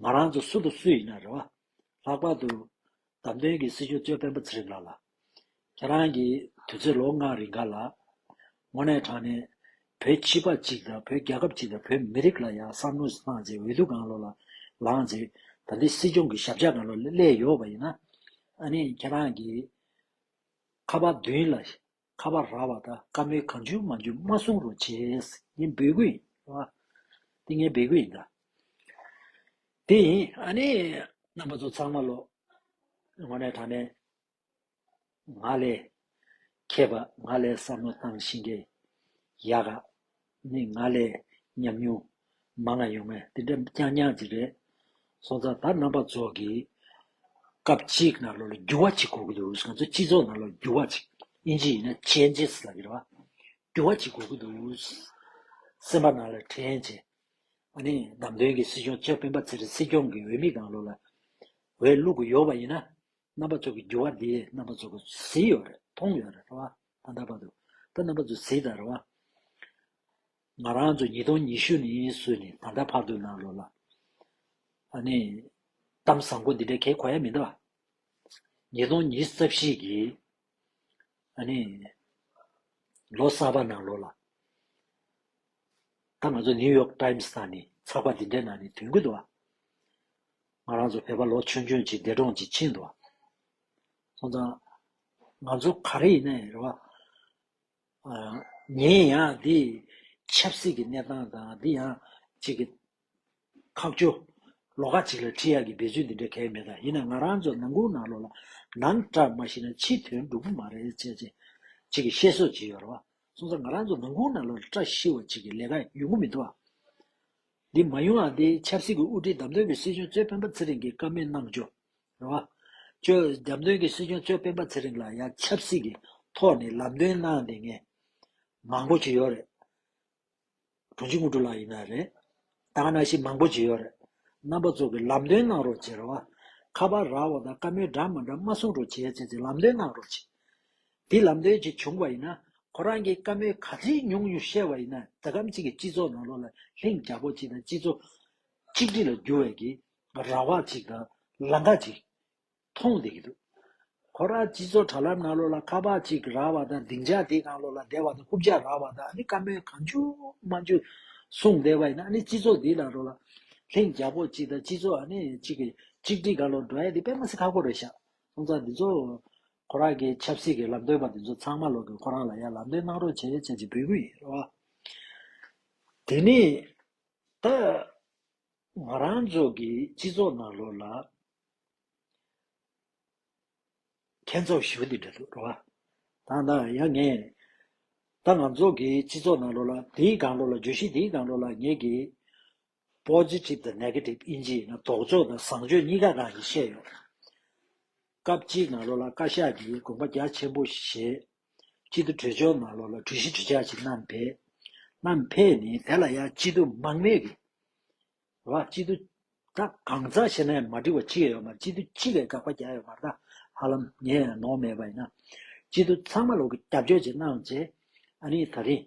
ང་རང་ཚོ་སུ་དང་སུ་ཡིན་ན་རེད་བ། ལྷག་པར་དུ། བདམས་ཐོན་གྱི་སྲིད་ཞུ་གཙོས་སྤེན་པ་ཚེ་རིང་ལགས་ལ། ཁྱེད་རང་གིས་དུས་ཚོད་ལོ་ལྔ་རིང་ག་ལ། དངོས་གནས་དྲང་གནས། བོད་སྤྱི་པ་གཅིག་དང་བོད་རྒྱལ་ཁབ་གཅིག་དང་བོད་མི་རིགས་ལ་ཡང་བསམ་བློ་བཏང་རྗེས་འོས་བསྡུ་གང་ལོ་ལ་ལངས་རྗེས་ད་འདི་སྲིད་སྐྱོང་གི་ཞབས་ཕྱག་གང་ལོ་ལས་ཡོད་བ་ཡིན་ན། ཨ་ནི་ཁྱེད་རང་གིས། ཁ་བ་བདུན་ལ། ཁ་བ་ར་བ་དང་དཀར་མོའི་གང་བྱུང་མ་འཇུག་མ་གསུང་རུང་བྱས། ངའི་འབོད་སྐུལ་ཡིན། འདི་ངའི་འབོད་སྐུལ་ཡིན། ད་དེ་ཡིན། ཨ་ནི། རྣམ་པ་ཚོ་ཚང་མ་ལོ། ངོ་ནས་དྲང་ནས། ང་ལས། མཁས་པ་ང་ལས་བསམ་བློ་བཏང་ཤིང་གི། ཡག་ག། ནི་ང་ལས་ཉམས་མྱོང་མང་ན་ཡོང་ངས་དེ་འདྲ་རྐྱང་རྐྱང་ཅིག་རེད་སོང་ཙང་ད་རྣམ་པ་ཚོགས་ཀྱིས་སྐབས་གཅིག་ནཱ་ལོ་ལ་འགྱུར་བ་ཅིག་གོ་གི་འདུག་ང་ཚོའི་སྤྱི་ཚོགས་ནཱ་ལོ་ལ་འགྱུར་བ་ཅིག་དབྱིན་ཇི་ཡིན་ན Changes ལ་འགྱུར་བ་འགྱུར་བ་ཅིག་གོ་གི་འདུག་སེམས་པ་ནཱ་ལོ་དྲན་ཅིག་ཨ་ནི་ནམ་དོན་གྱི་སྲིད་སྐྱོང་ཆབ་དཔོན་པ་ཚེ་རིང་སྲིད་སྐྱོང་གི་འོས་མི་གང་ལོ་ལ་འོས་བླུག་གི་ཡོག་པ་ཡིན་ན་རྣམ་པ་ཚོགས་ཀྱི་འགྱུར་བ་འདི་རྣམ་པ་ཚོགས་ཀྱི་ཟིན་ཡོག་རེད་མཐོང་ཡོག་རེད་ལྷ་བ། ཨ་འདར་བ་དུ། ད་རྣམ་པ་ཚོ་ཟིག་དར་བ། ང་རང་ཚོ་ཉིས་སྟོང་ཉི་ཤུ་ནས་སུ་ནས་ད་ལྟ་བར་དུ་ན་ལོ་ལ། ཨ་ནི། གཏམ་བཟང་པོ་འདི་འདྲ་གས་གོ་ཡ་མི་འདའ་བ། ཉིས་སྟོང་ཉིས་རྩ་བཞི་གི། ཨ་ནི། ལོ་གསར་བ་ན་ལོ་ལ། ད་ང་ཚོ་ནིའུ་ཡོག་ཏཱིམ་སི་ན་ནས་ཚགས་པ་འདི་འདྲའི་ནང་ནས་དོན་གུད་དུ་བ། ང་རང་ཚོ་བོད་པ་ལོ་ཆུང་ཆུང་གཅིག་འདས་གྲོངས་ཅིག་ཕྱིན་དུ་བ། ཚོང་དང། ང་ཚོ་ག་རེ་ཡིན་ནའི་རེད་བ། ངས་ཡང་འདི་ཆབ་སྲིད་ཀྱི་གནས་སྟངས་དང་འདི་ཡང་གཅིག་གི། ཁག་བཅུ། ལོ་ཁག་གཅིག་ལ་ཁྲི་ཡག་གི་འབད་རྩོལ་འདི་འདྲ་གལ་མེད་ད་ཡིན་ན་ང་རང་ཚོ་ནང་ཁུང་ནང་ལོག་ལ་ནང་སྐྲག་མ་ཤི་ན་ཕྱི་དོན་འགྲུབ་པོ་མ་རེད་བྱས་བྱས་གཅིག་གི་བཤད་སྲོལ་གཅིག་ཡོད་རེད་བ། སོང་ཚ་ང་རང་ཚོ་ནང་ཁུང་ནང་ལོག་ལ་སྐྲག་ཤི་བ་གཅིག་གི་ལས་ཀ་ཡོད་མགོ་མི་འདུག་བ། འདི་མ་ཡོང་ཡང་འདི་ཆབ་སྲིད་ཀྱི་དབུ་ཁྲིད་དམ་དོན་པའི་སྲིད་གཞུང་གཙོས་སྤེན་པ་ཚེ་རིང་གིས་བཀའ་མོལ་གནང་བཅུག་རེད་བ། ཁྱོད་རྒྱབ་མདུན་གྱི་སྲིད་སྐྱོང་གཙོས་སྤེན་པ་ཚེ་རིང་ལ་ཡང་ཆབ་སྲིད་ཀྱི་ཐོག་ནས་ལམ་སྟོན་གནང་དེ་ངས་མང་པོ་བྱེད་ཡོད་རེད། དྲུང་ཆེ་དངོས་གྲུབ་ལགས་ཡིན་ན་རེད། དང་ན་ཞིག་མང་པོ་བྱེད་ཡོད་རེད། རྣམ་པ་ཚོ་གི་ལམ་སྟོན་གནང་རོགས་བྱེད་རེད་བ། ཁ་པར་རག་བ་དང་བཀའ་མོལ་འདྲ་མ་འདྲ་མ་གསུང་རོགས་བྱེད་བྱས་ཚེ་ལམ་སྟོན་གནང་རོགས་བྱེད། དེ་ལམ་སྟོན་བྱེད་བྱུང་བ་ཡིན་ན་ཁོ་རང་གིས་བཀའ་མོལ་ག་ཚིག་ཉུང་ཉུང་བཤད་བ་ཡིན་ན་ད་གམ་ཅིག་གི་སྤྱི་ཚོགས་ནང་ལོག་ལ་ལྷིང་འཇགས་པོ་ཅིག་དང་སྤྱི་ཚོགས་གཅིག་སྒྲིལ་ལ་འགྱུར་བའི་གི་ར་བ་ཅིག་དང་ལང་ཀ་ཅིག་མཐོང་བསྡད་ཀྱི་འདུག་ཁོ་རང་སྤྱི་ཚོགས་དྲ་ལམ་ནང་ལོག་ལ་ཁ་བ་ཅིག་ར་བ་དང་སྡིངས་ཆ་དེའི་ནང་ལོག་ལ་བསྡད་པ་དང་རྐུབ་ལྕགས་ར་བ་དང་ཨ་ནི་དཀར་མོའི་གང་བྱུང་མ་བྱུང་བཟུང་བསྡད་པ་ཡིན་ན་ཨ་ནི་སྤྱི་ཚོགས་འདི་ལ་ལོག་ལ་ལྷིང་འཇགས་པོ་ཅིག་དང་སྤྱི་ཚོགས་ཨ་ནི་ཅིག་གི་གཅིག་སྒྲིལ་གང་ལོག་འགྲོ་ཡ་འདི་དཔེ་མ་ཟད་ཁ་ཁོ་རེ་བཞག་སོང་ཙང་འདི་ཚོ་ཁོ་རང་གི་ཆབ་སྲིད་ཀྱི་ལམ་སྟོན་པ་འདི་ཚོ་ཚང་མ་ལོག་གི་ཁོ་རང་ལ་ཡང་ལམ་སྟོན་གནང་རོགས་བྱས་བྱས་ཅིག་འབོད་ཀྱི་ཡིན་རེད་བ། དེ་ནས་ད། ང་རང་ཚོ་གི་སྤྱི་ཚོགས་ནང་ལོགས་ལ། མཁས་མཛོག་བཞི་བོ་འདི་འདྲ་འདུག་རོ། དང་ད་ཡང་ངས། ད་ང་ཚོ་གི་སྤྱི་ཚོགས་ནང་ལོགས་ལ་དེའི་སྒང་ལོགས་ལ་བརྗོད་གཞི་དེའི་སྒང་ལོགས་ལ་ངས་ཀྱི། Positive དང Negative ཨིན་ཇི་ཡིན་ན་དོགས་འཇོག་དང་བཟང་སྤྱོད་གཉིས་ཀ་གང་ཡིན་བཤད་ཡོད། སྐབས་གཅིག་ནང་ལོགས་ལ་བཀའ་ཤག་གིས་དགོངས་པ་རྒྱ་ཆེན་པོ་བཞེས། སྐྱིད་སྡུག་བྲོས་བྱོལ་མ་ལོ་ལ་གྲུ་བཞི་གྲུ་ཆ་གཅིག་གནམ་འཕེལ། གནམ་འཕེལ་ནི་དེ་ལ་ཡང་སྐྱིད་སྡུག་མང་མོད་ཀྱི། ར་སྐྱིད་སྡུག་ད་གང་ཟག་ཕྱི་ནང་མ་འགྲིག་བ་གཅིག་ཡོད་མར་སྐྱིད་སྡུག་སྤྱི་ལས་དགག་པ་བརྒྱ་ཡོད་མར་ད་ཧ་ལམ་ངས་ཡང་ནོར་མེད་པ་ཡིན་ན། སྐྱིད་སྡུག་ཚང་མ་ལུག་གི་རྒྱབ་སྐྱོར་གྱིས་གནང་བྱས། ཨ་ནི་ད་རིང།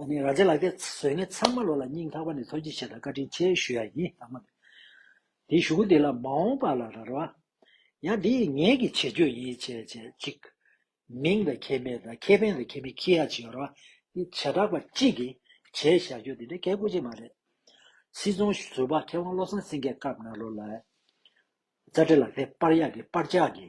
ཨ་ནི་ར་ཛའི་ལག་སྐྱེས་བཟོས་ངས་ཚང་མ་ལོ་ལ་སྙིང་ལྷག་པ་ནས་ཐུགས་རྗེ་ཆེ་དང་བཀའ་དྲིན་ཆེ་ཞུ་ཡ་ཡིན་ལགས་མོད། དེ་ཞུ་གུ་འདི་ལ་མ་འོངས་པ་ལ་རར་བ། ཡང་འདི་ཡི་ངེད་ཀྱི་བྱེད་སྤྱོད་ཡིན་བྱས་བྱས་གཅིག། མིང་དང་ཁྱད་མེད་དང་ཁེ་ཕན་དང་ཁེ་མི་ཁེ་ཡ་བྱེད་ར་བ། འདི་བྱེ་བྲག་པ་གཅིག་གིས་བྱས་བཞག་རྒྱུ་འདི་འདྲ་སྐད་དགོས་ཅིག་མ་རེད། སྲིད་ཚོང་ཟུར་པ་མཁས་དབང་བློ་བཟང་སེང་གེ་སྐབས་ན་ལོ་ལ། རྩ་འགྲེལ་ལ་དེ་སྤར་ཡག་གི་སྤར་ཅག་གི།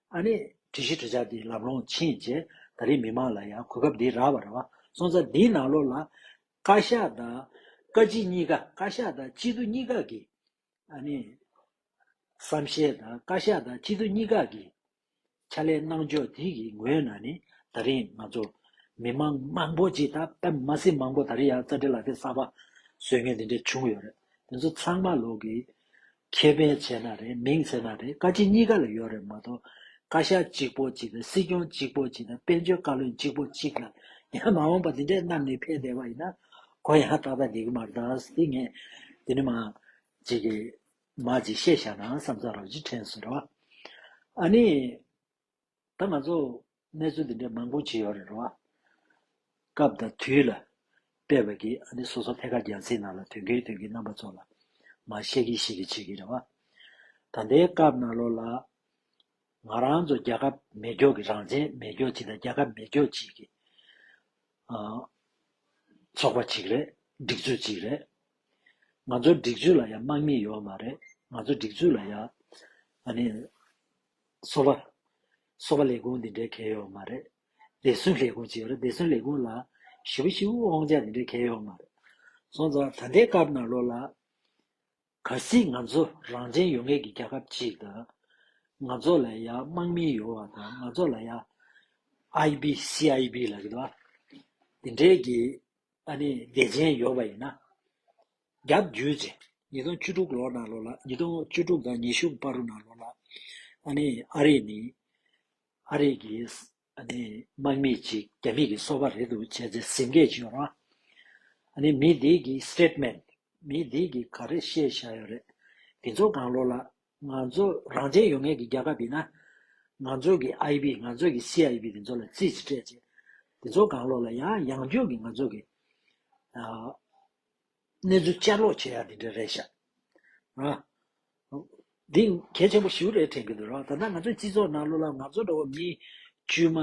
ཨ་ནེ། དྲི་གཞི་དྲི་ཆ་འདི་ལབ་ལོང་ཕྱིན་རྗེས་ད་རེས་མི་མང་ལ་ཡང་གོ་སྐབས་འདི་རག་བ་རེད་བ། སོང་ཙང་འདིའི་ནང་ལོགས་ལ། བཀའ་ཤག་དང། བཀའ་སྤྱི་གཉིས་ཀ། བཀའ་ཤག་དང་སྤྱི་འཐུས་གཉིས་ཀ་གི། ཨ་ནེ། བསམ་ཤེས་དང་བཀའ་ཤག་དང་སྤྱི་འཐུས་གཉིས་ཀ་གི། ཕྱག་ལས་གནང་ཕྱོགས་དེ་གི་ངོས་ནས་ནི་ད་རེས་ང་ཚོ། མི་མང་མང་པོ་ཅིག་དང་པད་མ་སི་མང་པོ་ད་རེས་ཡང་རྩ་འགྲེལ་ལག་འགྲེལ་གསར་པ། བཟོས་ངེས་འདི་འདྲ་བྱུང་ཡོད་རེད། དེ་ཚོ་ཚང་མ་ལོགས་ཀྱི། ཁེ་ཕན་ཚད་ན་རེད་མིང་ཚད་ན་རེད་བཀའ་སྤྱི་གཉིས་ཀ་ལ་ཡོད་རེད་མ་གཏོགས་བཀའ་ཤག་གཅིག་པོ་གཅིག་དང་སྲིད་སྐྱོང་གཅིག་པོ་གཅིག་དང་དཔལ་འབྱོར་བཀའ་བློན་གཅིག་པོ་གཅིག་ལ་ཡང་མ་འོངས་པ་འདི་འདྲའི་གནམ་ནས་འཕེན་བསྡད་པ་ཡིན་ན་གོ་ཡང་ཏག་ཏག་འགྲིག་གི་མ་རེད་ད་སྟི་ངས་འདི་ནས་མ་ཅིག་གིས་མ་ཅིག་བཤད་བཞག་ནའང་བསམ་ཚར་རོགས་གཅིག་དྲན་གསོས་རོགས། ཨ་ནི། ད་ང་ཚོ་གནས་ཚུལ་འདི་འདྲའི་མང་པོ་བྱེད་ཡོད་རེད་རོ། སྐབས་དང་དུས་ལ་དཔེ་བས་ཀྱི་ཨ་ནི་སོ་སོ་ཐད་ཀར་རྒྱལ་སྲིད་ནང་ལ་དོན་གྱིས་དོན་གྱིས་རྣམ་པ་ཚོ་ལ་མ་ཤེས་ཀྱིས་ཤེས་ཀྱིས་བྱེད་ཀྱིས་རེད་བ། ད་ལྟའི་སྐབས་ནང་ལོ་ལ། ང་རང་ཚོ་རྒྱལ་ཁབ་མེ་སྒྱོགས་ཀྱི་རང་བཙན་མེ་སྒྱོགས་ཅིག་དང་རྒྱལ་ཁབ་མེ་སྒྱོགས་ཅིག་གི། ཚོགས་པ་ཅིག་རེད་སྒྲིག་འཛུགས་ཅིག་རེད། ང་ཚོ་སྒྲིག་འཛུགས་ལ་ཡང་དམག་མི་ཡོད་མ་རེད་ང་ཚོ་སྒྲིག་འཛུགས་ལ་ཡང་ཨ་ནི་སོ་པ། སོ་པ་ལས་ཁུངས་འདི་འདྲའི་གལ་ཡོད་པ་མ་རེད། བདེ་སྲུང་ལས་ཁུངས་ཅེས་པ་རེད། བདེ་སྲུང་ལས་ཁུངས་ལ། ཞི་བུ་ཞི་བུ་དབང་ཆ་འདི་འདྲའི་གལ་ཡོད་པ་མ་རེད། སོང་ཙང་ད་ལྟའི་སྐབས་ནང་ལོགས་ལ། ག་སྲིད་ང་ཚོ་རང་བཙན་ཡོང་མཁན་གྱི་རྒྱལ་ཁབ་ཅིག་དང། ང་ཚོ་ལ་ཡང་དམག་མི་ཡོད་བ་དང་ང་ཚོ་ལ་ཡང། IB CIB ལ་གི་དོ། འདི་འདྲའི་གི་ཨ་ནི་བདེ་ཆེན་ཡོད་པ་ཡིན་ན། བརྒྱ་བརྒྱུད་ཚེ་ཉིས་སྟོང་བཅུ་དྲུག་ལོ་ནང་ལོ་ལ་ཉིས་སྟོང་བཅུ་དྲུག་དང་ཉི་ཤུ་པར་རུ་ནང་ལོ་ལ་ཨ་ནི་ཨ་རིས་ནི་ཨ་རིས་ཀྱི་ཨ་ནི་དམག་མི་གཅིག་རྒྱ་མི་གི་སོ་བ་རེད་འདུག་བྱས་ཚེ་ཟིང་སྐད་བྱེད་རོགས་ཨ་ནི་མི་འདིས་ཀྱི Statement མི་འདིས་ཀྱི་ག་རེ་བཤད་བཞག་ཡོད་རེད་དེ་ཚོ་གང་ལོ་ལ་ང་ཚོ་རང་བཙན་ཡོད་ངེས་ཀྱི་རྒྱ་ཁབ་ཡིན་ན་ང་ཚོ་གི IB ང་ཚོ་གི CIB དེ་ཚོ་ལ་ཙིས་སྤྲད་བྱས་དེ་ཚོ་གང་ལོ་ལ་ཡང་ཡང་བརྒྱུད་ཀྱི་ང་ཚོ་གི་གནས་ཚུལ་བསྐྱར་ཀློག་བྱེད་ཡག་འདི་འདྲ་རེད་ཤག་ཨ། འདི་གལ་ཆེན་པོ་ཞིག་རེད་དྲན་གྱི་འདུག་རོགས་ད་ལྟ་ང་ཚོའི་སྤྱི་ཚོགས་ནང་ལོ་ལ་ང་ཚོ་འདྲ་བོ་མི་དཀྱུས་མ།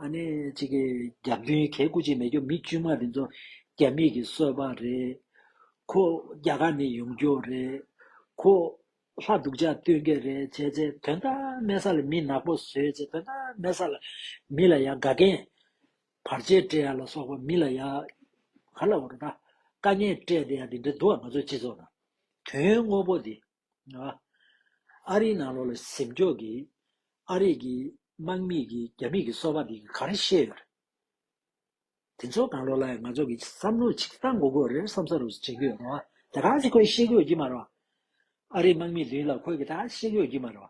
ཨ་ནི་གཅིག་གི་རྒྱབ་མདུན་གས་སྐུ་ཅིག་མེད་རྒྱུ་མི་དཀྱུས་མ་དེ་ཚོ་རྒྱ་མིས་ཀྱི་གསོད་པ་རེད། ཁོ་རྒྱ་གར་ནས་ཡོང་རྒྱུ་རེད། ཁོ་ལྷ་སྡུག་ཅག་སྟོན་གྱི་རེད་བྱས་ཚེ་དོན་དག་མེད་ས་ལ་མི་ནག་པོ་བཟོས་ཚེ་དོན་དག་མེད་ས་ལ་མི་ལ་ཡང་དགའ་མཁན་བར་ཆད་བསྐྲད་ཡ་ལ་སོགས་པ་མི་ལ་ཡ། ག་ལ་བ་རུ་ན། བཀའ་ཉན་བསྐྲད་དེ་ཡང་དེ་འདྲ་འདུག་ཨ་ང་ཚོ་སྤྱི་ཚོགས་ནང། དོན་དངོས་པོ་དེ། ཨ་རིའི་ནང་ལོགས་ལ་གཟིམ་འཁྱོག་གིས། ཨ་རིག་གི་དམག་མིག་གིས་རྒྱ་མིག་གི་སོ་བ་དེ་ག་རེ་ཤེས་ཡོད་རེད། དེ་ཚོ་གང་ལོགས་ལ་ཡང་ང་ཚོ་གི་བསམ་བློ་ཆིག་ཐག་མགོ་རྒོད་རེར་བསམ་ས་རུ་བྱེད་ཀྱི་ཡོད་རེད། དེ་ག་ཚོད་ཁོས་ཤེས་དགོས་ཀྱི་མ་རེད། ཨ་རིའི་དམག་མིག་དེ་ལ་ཁོས་གི་ད་ཤེས་དགོས་ཀྱི་མ་རེད།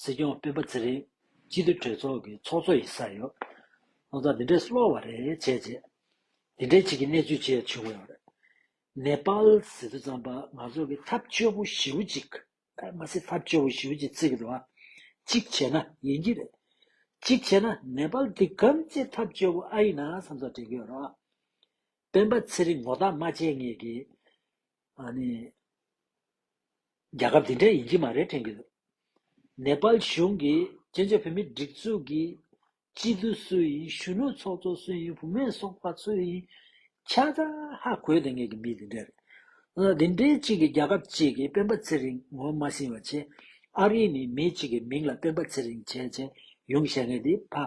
སྲིད་སྐྱོང་སྤེན་པ་ཚེ་རིང་སྤྱི་འཐུས་གྲོས་ཚོགས་ཀྱི་ཚོགས་གཙོ་ཡིན་ས་ཡོད། ཁོང་ཚོ་འདི་འདྲས་སློ་བ་རེད་བྱས་རྗེས། འདི་འདྲས་བྱེད་ཀྱི་གནས་ཚུལ་བྱས་བྱུང་ཡོད་རེད། ནེ་པལ་སི་ཚོ་ཙམ་པ་ང་ཚོ་གི་ཐབས་སྐྱོ་བོ་ཞི་བོ་གཅིག་མ་སི་ཐབས་སྐྱོ་བོ་ཞི་བོ་གཅིག་ཚིག་དོ་གཅིག་བྱས་ན་ཡིན་གྱི་རེད། གཅིག་བྱས་ན་ནེ་པལ་འདི་གམ་ཚེ་ཐབས་སྐྱོ་བོ་ཨ་ཡིན་ན་བསམ་ཚོ་དྲན་གྱི་ཡོད་རེད། སྤེན་པ་ཚེ་རིང་ངོ་རྟགས་མ་བྱས་ངེས་གི། ཨཱ་ནི། རྒྱལ་ཁབ་འདི་འདྲའི་ཡིན་གྱི་མ་རེད་དྲན་གྱི་འདུག། ནེ་པལ་གཞུང་གིས་བཙན་བྱོལ་བོད་མིའི་སྒྲིག་འཛུགས་ཀྱི་སྤྱི་འཐུས་སུ་ཡིན་གཞོན་ནུ་ཚོགས་གཙོ་སུ་ཡིན་བུ་མེད་སོགས་པ་སུ་ཡིན་ཆ་ཚང་ཧ་གོ་ལྟ་ངེས་ཀྱི་མི་འདི་འདྲ་རེད། འདི་འདྲའི་གཅིག་གིས་རྒྱལ་ཁབ་གཅིག་གི་སྤེན་པ་ཚེ་རིང་ངོ་མ་ཟིན་བ་ཆེ། ཨ་རི་ནི་མི་གཅིག་གི་མིང་ལ་སྤེན་པ་ཚེ་རིང་བྱས་བྱས་ཡོང་བཤད་ངེས་འདི་ཕ།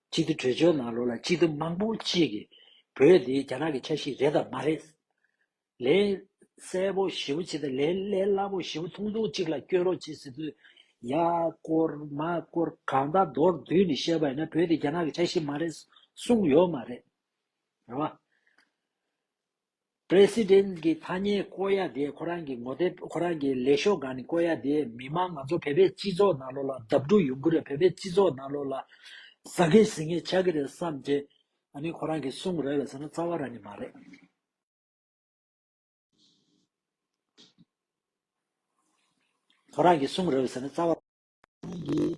སྤྱི་འཐུས་གྲོས་ཆོད་ནང་ལོ་ལ་སྤྱི་འཐུས་མང་པོ་གཅིག་གིས་བོད་འདི་རྒྱ་ནག་གི་ཆ་ཞིག་རེད་དམ་མ་རེད། ལས་གསལ་པོ་ཞིབ་པོ་བྱེད་དང་ལས་གླེ་སླ་པོ་ཞིབ་པོ་ཐུང་ཐུང་གཅིག་ལ་བསྐྱོད་རོགས་བྱེད་ཟེར་དུས། ཡ། སྐོར། མ། སྐོར། གང་དག་མདོར་བསྡུས་ནས་བཤད་པ་ཡིན་ན་བོད་འདི་རྒྱ་ནག་གི་ཆ་ཞིག་མ་རེད་གསུངས་ཡོད་མ་རེད། རེད་བ། President། གི་ཐ་སྙད་བཀོལ་ཡ་དེ་ཁོ་རང་གི་ངོ་དེབ་ཁོ་རང་གི་ལས་ཤོག་སྒང་ནས་བཀོལ་ཡ་དེ་མི་དམངས་ང་ཚོ་བོད་པའི་སྤྱི་ཚོགས་ནང་ལོགས་ལ་དབབ་འགྲོ་ཡོང་གི་རེད་བོད་པའི་སྤྱི་ཚོགས་ནང་ལོགས་ལ་ཟ་གི་ཟིང་གི་ཆག་གི་རེད་བསམ་ཏེ་ཨ་ནི་ཁོ་རང་གིས་གསུང་རེད་བས་ཟེར་ན་རྩ་བ་ར་ནི་མ་རེད། ཁོ་རང་གིས་གསུང་རེད་བས་ཟེར་ན་རྩ་བ་ར་ནི་མ་རེད།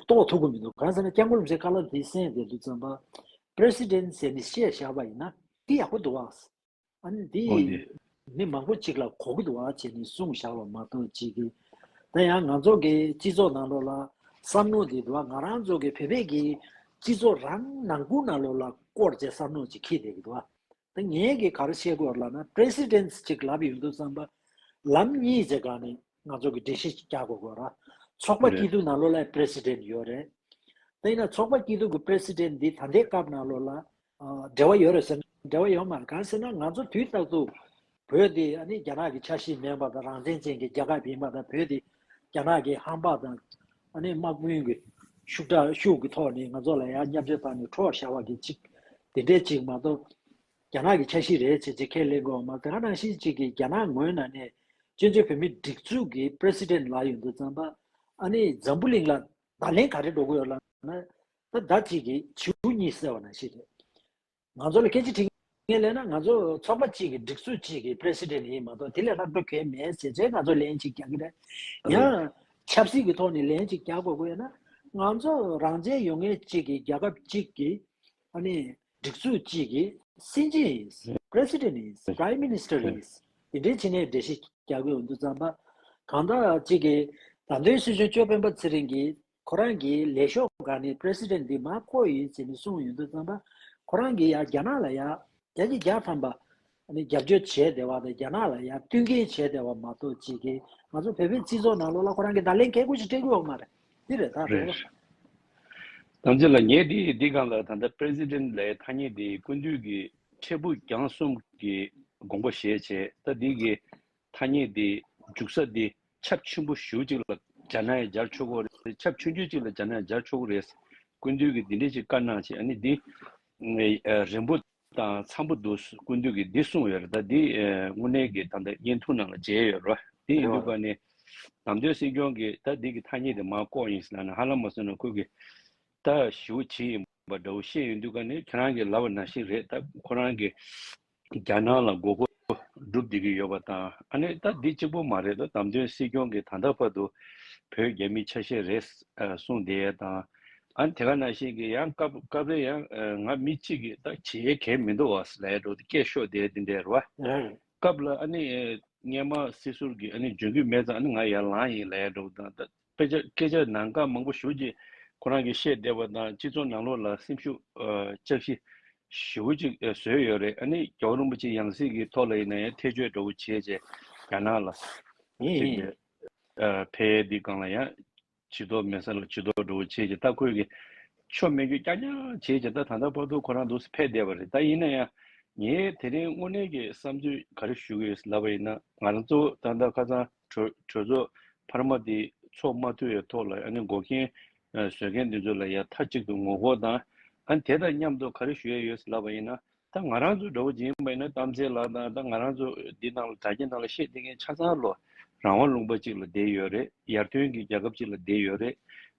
རྟོགས་ཐུབ་ཀྱི་མི་འདུག་གང་ཟེར་ན་སྐྱབས་མགོན་ལུག་རྫས་དཀར་ལགས་འདི་གསན་བསྡད་འདུག་བཙན་པ President ཟེར་ནས་བཤད་བཞག་པ་ཡིན་ན་འདི་ཡག་པོ་འདུག་ཨང། ཨ་ནི་འདི་ཨོ་ནི། མི་མང་པོ་གཅིག་ལ་གོ་གི་འདུག་ཨང་བྱས་ནས་གསུངས་བཞག་པ་མ་གཏོགས་ཅི་གི། ད་ཡང་ང་ཚོ་གི་སྤྱི་ཚོགས་ནང་ལོགས་ལ་བསམ་མནོ་འདི་འདུག་ཨང་ང་རང་ཚོ་གི་བོད་པའི་གི་སྤྱི་ཚོགས་རང་ནང་ཁུང་ནང་ལོགས་ལ་བསྐོར་བྱས་བསམ་མནོ་ཅིག་ཁེལ་བསྡད་གི་འདུག་ཨང། ད་ངས་གི་ག་རེ་བཤད་དགོས་ལབ་ན presidents ཅིག་ལབ་ཡོད་འདུག་བསམ་པ། ལམ་གཉིས་ཅེས་གང་ནས་ང་ཚོ་གི་འགྲེལ་བཤད་ཅིག་རྒྱག་དགོས་དགོས་ར། ཚོགས་པ་སྐྱིད་སྡུག་ན་ལོ་ལ president ཡོད་རེད། ད་ཡིན་ན་ཚོགས་པ་སྐྱིད་སྡུག་གི president འདི་ད་འདའི་སྐབས་ན་ལོ་ལ་འབྲེལ་བ་ཡོད་རེད་ཟེར་ན་འབྲེལ་བ་ཡོད་མ་རེད་གང་ཟེར་ན་ང་ཚོ་དུས་རྟག་ཏུ་བོད་དེ་ནི་རྒྱ་ནག་གི་ཆ་ཤས་མེད་པ་དང་རང་བཙན་ཅན་གྱི་རྒྱལ་ཁབ་ཡིན་པ་དང་བོད་དེ་རྒྱ་ནག་གི་ཧམ་བག་དང་དམག་དཔུང་གི་ཤུགས་དྲག་ཤུགས་ཀྱི་ཐོག་ནས་ང་ཚོ་ལ་ཡ་མཉམ་བྱེད་ཚར་ནས་ཁྲོ་ཞར་བ་གི་ཅིག་དེ་འདྲས་ཅིག་མ་གཏོགས། རྒྱ་ནག་གི་ཆ་ཤས་རེད་ཅེས་ཅི་ཁས་ལེན་དགོས་བ་མ་ག་རང་བཞིན་ཅིག་གིས་རྒྱ་ནག་ངོས་ནང་ནས་བཙན་བྱོལ་བོད་མིའི་སྒྲིག་འཛུགས་ཀྱི president ལག་ཡོད་འདུག་ཙང་པ་ཨ་ནི་འཛམ་བུ་གླིང་ལ་བརྡ་ལན་ག་རེ་འགྲོ་གི་ཡོད་ལབ་ན་ད་བདག་ཅིག་གིས་བྱིའུ་གཉིས་བསད་བ་ན་ཤི་རེད། ང་ཚོ་ལ་སྐད་ཆ་དྲིས་མཁན་ལས་ན་ང་ཚོ་ཚོགས་པ་གཅིག་གི་སྒྲིག་སྲོལ་གཅིག་གི president ཡིན་མ་གཏོགས་དེ་ལས་ལྷག་འགྲོ་གལ་མེད་ཟེར་ཚེ་ང་ཚོ་ལན་གཅིག་རྒྱག་གི་རེད། ཡང་ཆབ་སྲིད་ཀྱི་ཐོག་ནས་ལན་གཅིག་རྒྱག་དགོས་དགོས་ཡོད་ན། ང་ཚོ་རང་བཙན་ཡོང་མཁན་གཅིག་གི་རྒྱལ་ཁབ་གཅིག་གི་སྒྲིག་སྲོལ་གཅིག་གི་སྲིད་འཛིན་ཡིན། president ཡིན། prime minister ཡིན། དེ་འདྲའི་ཕྱི་ནས་འགྲེལ་བཤད་རྒྱག་གི་འོས་འདུག་བརྩམས་པ། གང་དག་གཅིག་གིས་ད་ལྟའི་སྲིད་གཞུང་གཅོད་དཔོན་པ་ཚེ་རིང་གིས་ཁོ་རང་གིས་ལས་ཤོག་འགའ་ནི President འདི་མ་བསྐོ་ཡིན་ཟེར་ནས་གསུངས་ཡོད་འདུག་བསམ་པ། ཁོ་རང་གིས་ཡང་རྒྱ་ནག་ལ་ཡང་རྒྱ་ཆེ་རྒྱ་ཐམ་པ། རྒྱབ་སྐྱོར་བྱས་བསྡད་བ་དང་རྒྱ་ནག་ལ་ཡང་བསྟུན་མཁན་བྱས་བསྡད་བ་མ་གཏོགས་ཇི་དགེ་ང་ཚོ་བོད་པའི་སྤྱི་ཚོགས་ནང་ལོགས་ལ་ཁོ་རང་གི་བརྡ་ལན་གལ་ཁུ་ཞིག་སྤྲད་དགོས་བ་མ་རེད། འདི་རེ་ད་རེད། རེད། དམ་ཚིག་ལ་ངས་འདི་ཡིས་འདི་གང་ལ་ད་ལྟ President ལའི་ཐ་སྙད་འདི་ཀུན་འདུས་ཀྱི་འཕྲལ་ཕུགས་རྒྱང་གསུམ་གྱི་དགོངས་པ་བཞེས་བྱས་ད་འདི་གི་ཐ་སྙད་འདི་འཇུག་ས་འདི་ཆབ་ཆེན་པོ་གཞུག་ཅིག་ལ་སྦྱར་ན་ཡང་སྦྱར་ཆོག་གོ་རེད་ཆབ་ཆུང་ཆུང་ཅིག་ལ་སྦྱར་ན་ཡང་སྦྱར་ཆོག་གོ་རེད། སྐུ་མདུན་གྱིས་འདི་འདྲའི་ཅིག་བཀའ་གནང་བྱས་ནི་འདི་རན་པོ་དང་འཚམ་པོ་འདུག་སྐུ་མདུན་གྱིས་འདི་གསུངས་ཡོད་རེད་ད་འདི་དངོས་གནས་ཀྱི་ད་ལྟ་བརྙན་ཐུང་ནང་ལ་མཇལ་ཡོད་རེད་བ་དེ་ཡིན་དུས་བཀའ་ནི་དམ་དོན་སྲིད་སྐྱོང་གིས་ད་འདི་གི་ཐ་སྙད་དེ་མ་བཀོག་ཡིན་ཟེར་ན་ཧ་ལམ་མ་གསུངས་ན་ཁོ་གི་ད་ཞུ་བྱེད་ཡིན་པ་འདྲ་བོ་བཤད་ཡོད་དུས་བཀའ་ནི་ཁྱེད་རང་གི་ལབ་བ་ན་ཞིག་རེད་ད་ཁོ་རང་གི་རྒྱ་ནག་ལ་མགོ་སྐོར་བསྒྲུབ་བསྡད་ཀྱི་ཡོད་པ་དང་ཨ་ནེ་ད་འདི་གཅིག་པོ་མ་རེད་དོ་དམ་དོན་སྲིད་སྐྱོང་གིས་ད་ལྟ་བར་དུ་བོད་རྒྱ་མི་ཆ་ཤས་རེད་གསུངས་བསྡད་ཡས་དང་ཨ་དེ་ག་ན་བཞིན་གྱི་ཡང་སྐབས་སྐབས་རེ་ཡང་ང་མི་གཅིག་གིས་ད་བྱེད་ཡས་གལ་མི་འདུག་བ་ས་ལས་འགྲོ་དེ་སྐད་ཤོད་བསྡད་དེ་འདྲས་རེད་བ། སྐབས་ལ་ཨ་ནེ་སྔས་མ་སྲིད་ཟུར་གྱིས་ཨ་ནེ་འཇོན་གྱི་མེད་ཙང་ཨ་ནེ་ང་ཡར་ལངས་ཡས་ལས་འགྲོ་དང་ད་དཔེ་ཆ་སྐད་ཆ་ནང་དཀར་མང་པོ་བཞུགས་རྗེས་ཁོ་རང་གིས་བཤད་བདེ་བ་དང་སྤྱི་ཚོགས་ནང་ལོགས་ལ་སེམས་ཤུགས་ལྕགས་བཞི་ཞུ་བོ་ཅིག་བཟོས་ཡོད་རེད་ཨ་ནི་རྒྱ་བོ་རིན་པོ་ཆེ་ཡང་སྲིད་ཀྱི་ཐོག་ལ་ཡིན་ན་ཡང་ཐེ་བྱུས་འདྲ་བོ་བྱེད་ཅེས་རྒྱ་ནག་ལ་གཅིག་ཡིན། ཕལ་ཡས་འདི་སྒང་ལ་ཡང་བྱི་དོག་མེད་ས་ལ་བྱི་དོག་འགྲོ་བོ་བྱེད་ཅེས་ད་ཁོས་ཀྱི་ཆོ་མེད་རྒྱུ་རྐྱང་རྐྱང་བྱེད་ཅེས་ད་ད་ལྟ་བར་དུ་ཁོ་རང་འདུག་ས་ཕལ་བདེ་བ་རེད་ད་ཡིན་ན་ཡང་ངས་དེ་རིང་དངོས་གནས་ཀྱི་བསམ་ཚུལ་ག་རེ་ཞུ་གི་ཡོད་ལབ་པ་ཡིན་ན་ང་རང་གཙོ་བོ་ད་ད་ཁ་ཚང་གྲོས་ཚོགས་འཕར་མ་འདི་ཚོགས་མ་ཐུབ་ཡའི་ཐོག་ལ་ཨ་ནི་འགོག་རྐྱེན་བཟོས་མཁན་འདི་ཚོ་ལ་ཡ་མཐའ་གཅིག་ཏུ་ངོ་རྒོལ་དང་ཨ་ནི་དེ་དང་མཉམ་དུ་ག་རེ་ཞུ་ཡ་ཡོད་ལབ་པ་ཡིན་ན་ད་ང་རང་ཚོ་འདྲ་བོ་འཇིན་པ་ཡིན་ན་གཏམ་ཚེ་ལགས་དང་ད་ང་རང་ཚོ་འདི་ནང་ལ་དྲ་རྒྱ་ནང་ལ་བཤད་བསྡད་མཁན་ཆ་ཚང་ལོ་རང་དབང་ལུང་པ་ཅིག་ལ་བསྡད་ཡོད་རེད་ཡར་ཐོན་གྱི་རྒྱལ་ཁབ་ཅིག་ལ་བསྡད་ཡོད་རེད་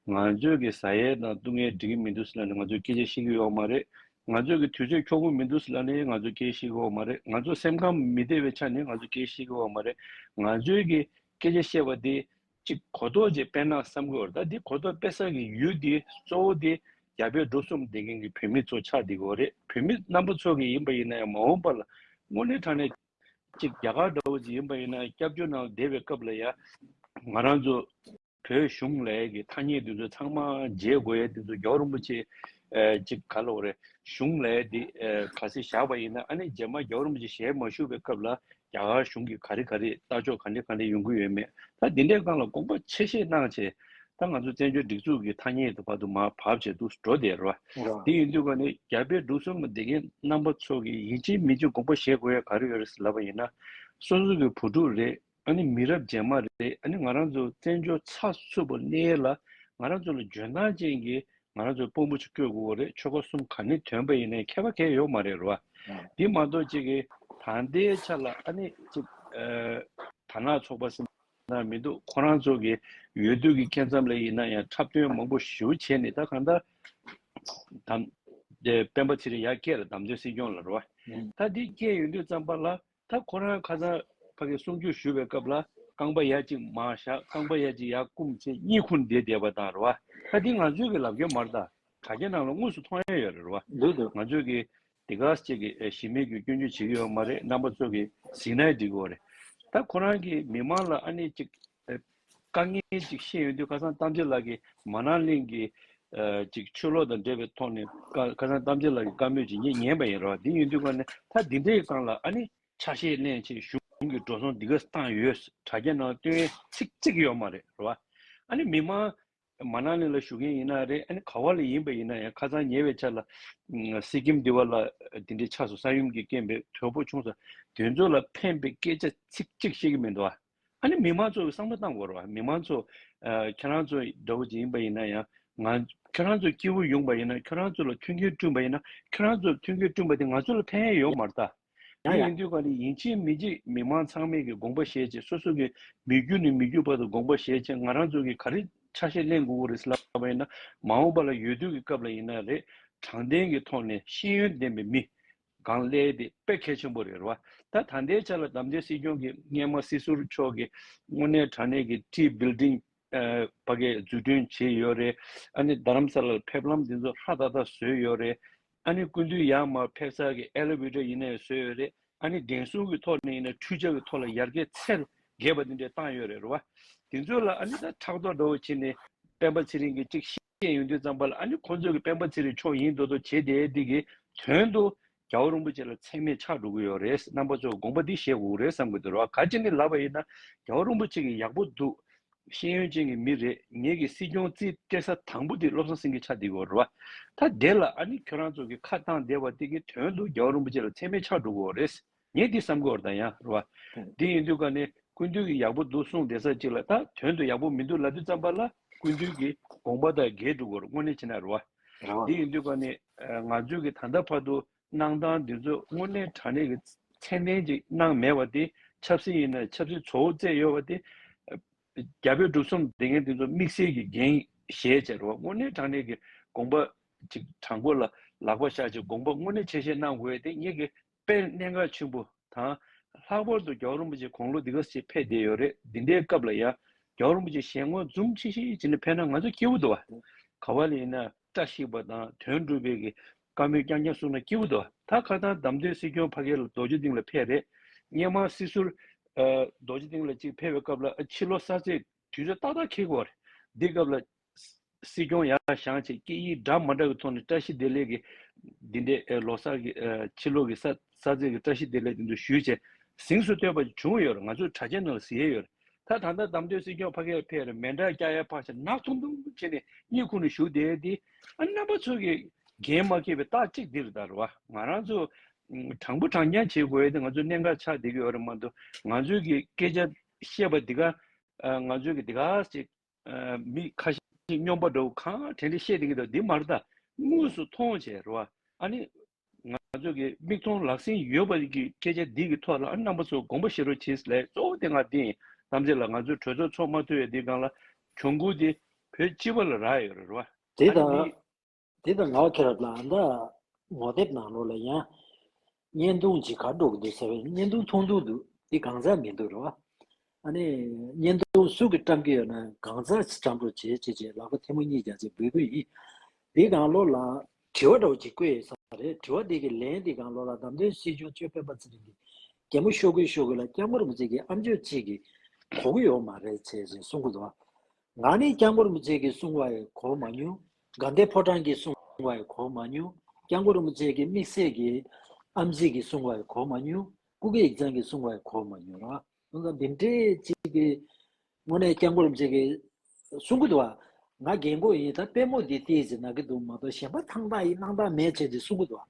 ང་ཚོས་གི་ཟ་ཡས་དང་བཏུང་ཡས་འགྲིག་གི་མི་འདུག་ཟེར་ན་ནི་ང་ཚོས་སྐད་ཆ་བཤད་ཀྱི་ཡོག་མ་རེད་ང་ཚོས་ཀྱི་དུས་ཚོད་འཁྱོག་པོ་མི་འདུག་སི་ལ་ནི་ང་ཚོ་སྐད་ཤེས་གི་བ་མ་རེད་ང་ཚོ་སེམས་ཁམས་མི་བདེ་བའི་ཆ་ནི་ང་ཚོ་སྐད་ཤེས་གི་བ་མ་རེད་ང་ཚོས་ཀྱི་སྐད་ཆ་བཤད་པ་དེ་གཅིག་གོ་རྟོགས་ཅིག་སྤེལ་ན་བསམ་གི་བ་རེད་ད་དེ་གོ་རྟོགས་སྤེལ་ས་ཀྱི་ཡུལ་དེ་གཙོ་བོ་དེ་རྒྱ་བལ་འབྲུག་གསུམ་བསྡད་མཁན་གྱི་བོད་མི་ཚོ་ཆགས་བསྡད་གི་བ་རེད་བོད་མི་རྣམ་པ་ཚོ་ཀྱི་ཡིན་པ་ཡིན་ན་ཡང་མ་འོངས་པ་ལ་དངོས་གནས་དྲང་གནས་ཅིག་རྒྱ་གར་འདྲ་བོ་ཅིག་ཡིན་པ་ཡིན་ན་སྐྱབས་བཅོལ་ནང་བསྡད་པའི་སྐབས་ལ་ཡང་ང་རང་ཚོ། བོད་གཞུང་ལས་ཀྱི་ཐ་སྙད་འདི་ཚོ་ཚང་མ་བརྗེ་དགོས་ཡས་འདི་ཚོ་མགྱོགས་རིན་པོ་ཆེ་ཅིག་ག་ལ་འོ་རེད་གཞུང་ལས་འདི་ག་སེ་བཞག་པ་ཡིན་ན་ཨ་ནེ་རྗེས་མ་མགྱོགས་རིན་པོ་ཆེ་ཞལ་མ་ཞུ་བའི་སྐབས་ལ་རྒྱ་གར་གཞུང་གི་ག་རེ་ག་རེ་ལྟ་ཕྱོགས་ག་འདྲེ་ག་འདྲེ་ཡོང་གི་ཡོད་མེད་ད་འདི་འདྲའི་སྒང་ལ་དགོངས་པ་ཆེ་བཞེས་གནང་བྱས་ད་ང་ཚོ་བཙན་བྱོལ་སྒྲིག་འཛུགས་ཀྱི་ཐ་སྙད་དུ་བར་དུ་མ་བབས་བྱས་འདུག་འགྲོ་བདེ་ར་འདི་ཡིན་དུས་ག་ནི་རྒྱ་བལ་འབྲུག་གསུམ་ལ་དེ་གའི་རྣམ་པ་ཚོ་གི་ཡིན་གཅིག་མིན་གཅིག་དགོངས་པ་བཞེས་དགོས་ཡས་ག་རེ་ཡོད་རེད་ཟེར་ལབ་པ་ཡིན་ན་སོ་སོ་གི་བུ་ཕྲུག་རེད། ཨ་ནི་མི་རབས་རྗེས་མ་རེད་ཨ་ནི་ང་རང་ཚོ་བཙན་བྱོལ་ཚགས་ཚུད་པོ་གནས་ལ་ང་རང་ཚོ་ལ་འཇོན་ཐང་ཅན་གྱི་ང་རང་ཚོའི་དཔོན་པོ་ཅིག་སྤྲོད་དགོས་གོ་རེད་ཆོལ་ཁ་གསུམ་ག་ནི་དོན་པ་ཡིན་ནའི་ཁྱད་པ་གས་ཡོག་མ་རེད་རོ་བ་འདི་མ་གཏོགས་ཅིག་གི་ད་ལྟའི་ཆ་ལ་ཨ་ནི་ཅིག་དར་ནག་ཚོགས་པ་སེམས་ནང་མི་འདུག་ཁོ་རང་ཚོ་གི་ཡོད་དུས་གི་ཁྱད་མཚམས་ལ་ཡིན་ན་ཡང་འཁྲབ་སྟོན་མང་པོ་ཞུ་བྱས་ནས་ད་གང་ལྟར་དམ་སྤེན་པ་ཚེ་རིང་ཡག་སྐད་ལ་དམ་དོན་སྲིད་སྐྱོང་ལ་རོ་བ་ད་འདི་སྐད་ཡོད་དུས་ཙམ་པ་ལ་ད་ཁོ་རང་ཁ་སང་ཕ་གི་གསུང་ཆོས་ཞུ་བའི་སྐབས་ལ། རྐང་པ་ཡར་གཅིག་མར་བཞག་རྐང་པ་ཡར་གཅིག་ཡར་བསྐུམ་ཚེ་གཉིད་ཁུག་འདེད་འདེད་པ་དང་རེད་བ། ད་འདི་ང་ཚོས་ཀྱི་ལབ་རྒྱུ་མ་རེད་ད། དྲ་རྒྱ་ནང་ལ་དངོས་སུ་མཐོང་ཡ་ཡོད་རེད་བ། འདུག་འདུག། ང་ཚོས་ཀྱི་དེ་ག་ཟས་ཀྱི་གཞི་མེད་ཀྱི་སྐྱོན་བརྗོད་བྱེད་ཀྱི་ཡོད་མ་རེད་རྣམ་པ་ཚོས་ཀྱི་ཟིག་ནའི་འགྲིག་གི་འོ་རེད། ད་ཁོ་རང་གིས་མི་མང་ལ་ཨ་ནི་ཅིག་དཀའ་ངལ་ཅིག་ཤེས་ཡོང་དུས་ཁ་སང་གཏམ་རྗེ་ལགས་ཀྱིས་མ་ནང་གླིང་གི་ཆོས་ལོག་དང་འབྲེལ་བའི་ཐོག་ནས་ཁ་སང་གཏམ་རྗེ་ལགས་ཀྱི་བཀའ་མོལ་ཅིག་ངས་ཉན་པ་ཡིན་རོགས་དེ་ཡིན་དུས་ཁོ་ནས་ད་འདི་འདྲའི་སྒང་ལ་ཨ་ནི་ཆ་ཤས་གླེང་ཆེད་གཞུང་གི་འགྲོ་སོང་འདི་ག་བཏང་ཡོད་དྲ་རྒྱ་ནང་བཏོན་ཚིག་གཅིག་གི་ཡོད་མ་རེད་རོགས་ཨ་ནི་མི་མང་མ་ནག་ལིང་ལ་བཞུགས་མཁན་ཡིན་ན་རེད་ཨ་ནི་ག་བ་ལ་ཡིན་པ་ཡིན་ན་ཡང་ཁ་ཚང་ཉེ་བའི་ཆ་ལ་སི་ཀིམ་འདི་བ་ལ་འདི་འདྲའི་ཆགས་སོ་ས་ཡུམ་གྱི་རྐྱེན་པས་དོལ་པོ་ཆུང་ས་དེ་ཚོ་ལ་ཕན་པའི་སྐད་ཆ་ཚིག་གཅིག་བཤད་ཀྱི་མི་འདུག་ཨ་ནི་མི་མང་ཚོ་བསམ་བློ་བཏང་དགོས་རོགས་མི་མང་ཚོ་ཁྱེད་རང་ཚོ་འདྲ་བོ་ཅིག་ཡིན་པ་ཡིན་ན་ཡང་ང་ཁྱེད་རང་ཚོ་སྐྱེ་བོ་ཡོང་པ་ཡིན་ན་ཁྱེད་རང་ཚོ་ལ་མཐུན་རྐྱེན་བསྐྲུན་པ་ཡིན་ན་ཁྱེད་རང་ཚོ་ལ་མཐུན་རྐྱེན་བསྐྲུན་པ་དེ་ང་ཚོ་ལ་ཕན་ཡོད་མ་རེད་དཱ། དེ་ཡིན་དུས་ཀ་ནི་ཡིན་ཕྱིན་མི་འཇིགས་མི་དམངས་ཚང་མས་ཀྱི་དགོངས་པ་བཞེས་རྗེས་སོ་སོ་ཀྱི་མི་རྒྱུད་ནས་མི་རྒྱུད་བར་དུ་དགོངས་པ་བཞེས་རྗེས་ང་རང་ཚོ་གིས་ག་རེ་ཆ་ཤས་གླེང་དགོས་རེད་ལབ་པ་ཡིན་ན་མ་འོངས་པ་ལ་ཡོད་དུས་ཀྱི་སྐབས་ལ་ཡིན་ན་རེད་དྲང་བདེན་གྱི་ཐོག་ནས་ཤེས་ཡོན་ལྡན་པའི་མི་གང་སླེ་དེ་དཔེ་གལ་ཆེན་པོ་རེད་རེད་བ་ད་ད་ལྟའི་ཆ་ལ་དམ་བཅའ་སྲིད་སྐྱོང་གི་སྔས་མ་སྲིད་ཟུར་མཆོག་གིས་དངོས་གནས་དྲང་གནས་ཀྱི་བཀྲིས་བིལ་ལྡིང། བ་གའི་འཛུལ་སྐྲུན་བྱེད་ཡོད་རེད། ཨ་ནི་རྡ་རམ་ས་ལར་ཕེབས་ལམ་འདི་ཚོ་ཧྲ་ཏག་ཏག་བཟོས་ཡོད་རེད། ཨ་ནི་སྐུ་མདུན་ཡར་མར་ཕེབས་སར་གྱི་ཨེ་ལེ་ཝེ་ཏར་ཡིན་ནའི་བཟོས་ཡོད་རེད། ཨ་ནི་འགན་སྲུང་གི་ཐོག་ནས་ཡིན་ནའི་འཕྲུལ་ཆས་ཀྱི་ཐོག་ལ་ཡར་གྱི་ཚད་རྒལ་བ་འདི་འདྲའི་བཏང་ཡོད་རེད་རེད་བ། དེ་ཚོ་ལ་ཨ་ནི་ད་ཕྲག་དོག་འདྲ་བོ་བྱེད་ནས་སྤེན་པ་ཚེ་རིང་གིས་ཅིག་བཤད། ཅན་ཡོང་དུས་གཙང་པ་ལ་ཨ་ནི་ཁོང་ཚོས་ཀྱི་སྤེན་པ་ཚེ་རིང་མཆོག་ཡིན་འདོད་དོ་བྱེད་དེ་འདི་གི་དོན་དུ་རྒྱ་བོ་རིན་པོ་ཆེ་ལ་མཚན་མེད་ཆགས་འགྲོ་གི་ཡོད་རེད་རྣམ་པ་ཚོས་དགོངས་པ་འདི་བཞེས་དགོས་ཀྱི་རེད་བསམ་གྱི་འདུག་ར་ག་ཅིག་ནི་ལབ་པ་ཡིན་ན་རྒྱ་བོ་རིན་པོ་ཆེ་གི་ཡག་པོ་འདུག་ཤེས་ཡོན་ཅན་གྱི་མི་རེད་ངེད་ཀྱི་སྲིད་སྐྱོང་རྩིས་སྤྲད་ས་དང་པོ་འདི་བློ་བཟང་སེང་གེ་ཆགས་འདི་གི་རེད་ར་ད་དེ་ལ་ཨ་ནི་ཁྱོད་རང་ཚོ་གི་ཁ་བཏང་བསྡད་པ་འདི་གི་དོན་དུ་རྒྱ་བོ་རིན་པོ་ཆེ་ལ་མཚན་མེད་ཆགས་འགྲོ་གི་རེད། ངས་འདི་བསམ་གོ་ར་དང་ཡང་རོ། འདི་ཡིན་དུས་ཀ་ནས་ཀུན་འདུས་ཀྱི་ཡག་པོ་འདུག་གསུངས་བསྡད་ས་ཅིག་ལ་ད་དོན་དུ་ཡག་པོ་མི་འདུག་ལབ་དུས་བརྩམས་པ་ལ་ཀུན་འདུས་ཀྱི་དགོངས་པ་དང་འགལ་འདུག་གོ་དངོས་གནས་ཕྱི་ན་རོ། འདི་ཡིན་དུས་ཀ་ནས་ང་ཚོས་ཀྱི་ད་ལྟ་བར་དུ་གནང་སྟངས་འདི་ཚོ་དངོས་གནས་དྲང་གནས་ཀྱི་མཚན་ལྡན་ཅིག་གནང་མེད་བ་དེ་ཆབ་སྲིད་ཡིན་ན་ཆབ་སྲིད་ཚོ་བོ་བཙལ་ཡོད་བ་དེ། རྒྱ་བོད་འབྲུག་གསུམ་སྡེ་ངན་དེ་ཚོ་དམིགས་བསལ་གྱི་འགན་བཞེས་བྱས་རོ་དངོས་གནས་དྲང་གནས་ཀྱི་དགོངས་པ་ཅིག་དྲང་པོ་ལ་ལག་པ་བཞག་ཅིག་དགོངས་པ་དངོས་གནས་ཆེ་བཞེས་གནང་དགོས་དེ་ངེད་ཀྱི་དཔལ་གནས་འགག་ཆེན་པོ་དང། ལྷག་པར་དུ་རྒྱ་བོད་རིན་པོ་ཆེ་གོང་ལོ་འདི་ག་ཞེས་ཕེབས་བསྡད་ཡོད་རེད་འདི་འདྲའི་སྐབས་ལ་ཡང་རྒྱ་བོད་རིན་པོ་ཆེ་ཞལ་ངོ་འཛུམ་ཆེ་ཞིག་བྱེད་ནས་ཕེབས་ན་ང་ཚོ་སྐྱིད་པོ་འདུག་ཨ། ག་བ་ལ་ཡིན་ན་བཀྲ་ཤིས་པ་དང་དོན་འགྲུབ་པའི་གི་བཀའ་མོལ་རྐྱང་རྐྱང་གསུང་ན་སྐྱིད་པོ་འདུག་ཨ་ད་ཁ་སང་དམ་དོན་སྲིད་སྐྱོང་ཕ་གི་ལ་རྡོ་རྗེ་གདིང་ལ་ཕེབས་རེད་སྙེ་མང་སྲིད་ཟུར། རྡོ་རྗེ་གདིང་ལ་ཅིག་ཕེབས་པའི་སྐབས་ལ་ཕྱི་ལོ་གསར་ཚེས་དུས་ཚོད་ཏག་ཏག་འཁེལ་དགོས་རེད་འདི་སྐབས་ལ་སྲིད་སྐྱོང་ཡག་བཞག་ཅེས་སྐད་ཡིག་འདྲ་མ་འདྲ་བའི་ཐོག་ནས་བཀྲ་ཤིས་བདེ་ལེགས་ཀྱི་འདི་འདྲའི་ལོ་སར་གྱི་ཕྱི་ལོ་གྱི་སར་ཚེས་ཀྱི་བཀྲ་ཤིས་བདེ་ལེགས་འདི་འདྲ་ཞུས་རྗེས་གཟིངས་སུ་བསྟོད་པ་ཅིག་བྱུང་ཡོད་རེད་ང་ཚོའི་གྲྭ་ཆས་ནང་ལ་བཟི་ཡས་ཡོད་རེད་ད་ད་ལྟ་དམ་དོན་སྲིད་སྐྱོང་ཕ་གས་ཕེར་མེད་འདྲ་སྐྱ་ཡས་ཕག་ཆ་ནག་ཐུམ་ཐུམ་བྱེད་ནས་གཉིད་ཁུག་ནས་བཞུགས་བསྡད་དེ་ཨ་རྣམ་པ་ཚོ་གས་འགན་མ་ཁེ་བའི་རྟགས་གཅིག་འདི་རེད་ད་རེད་བ་ང་རང་ཚོ་དྲང་པོ་དྲང་བདེན་བྱེད་དགོས་ཡས་དེ་ང་ཚོའི་གནད་འགག་ཆགས་བསྡད་ཀྱི་ཡོད་རེད་མ་འདུག་ང་ཚོའི་གི་སྐད་ཆ་བཤད་པ་འདི་ག་ང་ཚོའི་གི་འདི་ག་ཅིག་མི་ཁ་ཤས་སྨྱོན་པ་འདྲ་བོ་གང་དྲན་དྲན་བཤད་དེ་གི་འདུག་འདི་མར་ད་དངོས་སུ་མཐོང་བྱས་རེད་བ། ཨ་ནི། ང་ཚོ་གི་མིག་མཐོང་ལག་ཟིན་ཡོད་པ་གི་སྐད་ཆ་འདི་གི་ཐོག་ལ་ཨ་ནི་རྣམ་པ་ཚོ་དགོངས་པ་བཞེས་རོགས་བྱས་ལེ་གཙོ་བོ་དེ་ང་འདི་ཡིན་གཏམ་བྱས་ལ་ང་ཚོའི་གྲོས་ཚོགས་ཚོགས་མ་ཐུ་ཡ་འདི་སྒང་ལ་གྱོང་གུད་དེ་བོད་སྤྱི་བ་ལ་རག་ཡོད་རེད་བ། དེ་ཨ་ནི་དང། མིག། དེ་དང་ལག་ཁྱེར་ལ་འདའ། ངོ་དེབ་ནང་ལོག་ལ་ཡང། བརྙན་ཐུང་ཇི་གར་འགྲོ་གི་འདུག་ཟེར་བས་བརྙན་ཐུང་མཐོང་འདུག་འདུག་དེ་གང་ཟག་མིན་འདུག་རེད་བ། ཨ་ནི། བརྙན་ཐུང་སུ་གི་བཀྲམ་གི་ཡོད་ན་གང་ཟག་ཅིག་བཀྲམ་འགྲོ་བྱེད་ཅེས་ཅེས་ལག་པ་ཐལ་མོ་གཉིས་རྒྱག་ཅེས་འབོད་སྐུལ་ཡིན། དེ་གང་ལོག་ལ། དྲི་བ་འདྲ་བོ་ཅིག་བཀོད་ཡོད་ས་རེད་དྲི་བ་དེ་གི་ལན་དེ་གང་ལོག་ལ་བདམས་ཐོན་སྲིད་གཞུང་གཅོད་སྤེན་པ་ཚེ་རིང་གི་རྒྱལ་མོ་ཤོ་གུ་ཤོ་གུ་ལ་སྐྱག་མོ་རིན་པོ་ཆེ་གི་ཨམ་ཆོས་གཅིག་གི་གོ་གི་ཡོག་མ་རེད་ཅེས་ཅེས་གསུང་གི་འདུག་བ། ང་ནི་སྐྱག་མགོ་རིན་པོ་ཆེ་གིས་གསུང་བ་ཡི་གོ་མ་མྱོང། དགའ་ལྡན་ཕོ་བྲང་གིས་གསུང་བ་ཡི་གོ་མ་མྱོང། སྐྱག་མགོ་རིན་པོ་ཆེ་གིས་དམིགས་བསལ་གྱི་ཨམ་གཙིགས་ཀྱིས་གསུང་བ་ཡི་གོ་མ་མྱོང། སྐུ་སྒེར་ཡིག་ཚང་གིས་གསུང་བ་ཡི་གོ་མ་མྱོང། ཁོང་ཚོ་འདི་འདྲའི་གཅིག་གི་ངོ་ནས་སྐྱག་མགོ་རིན་པོ་ཆེ་གིས་གསུང་གི་འདུག་བ། ང་རྒན་མགོ་ཡིན་ད་པད་མོ་འདི་ལྟས་ཅིག་ནག་གི་འདུག་མ་གཏོགས་གཞན་པ་ཐང་ཐང་ཡིན་སྣང་དང་མེད་བྱས་ཏེ་གསུང་གི་འདུག་བ།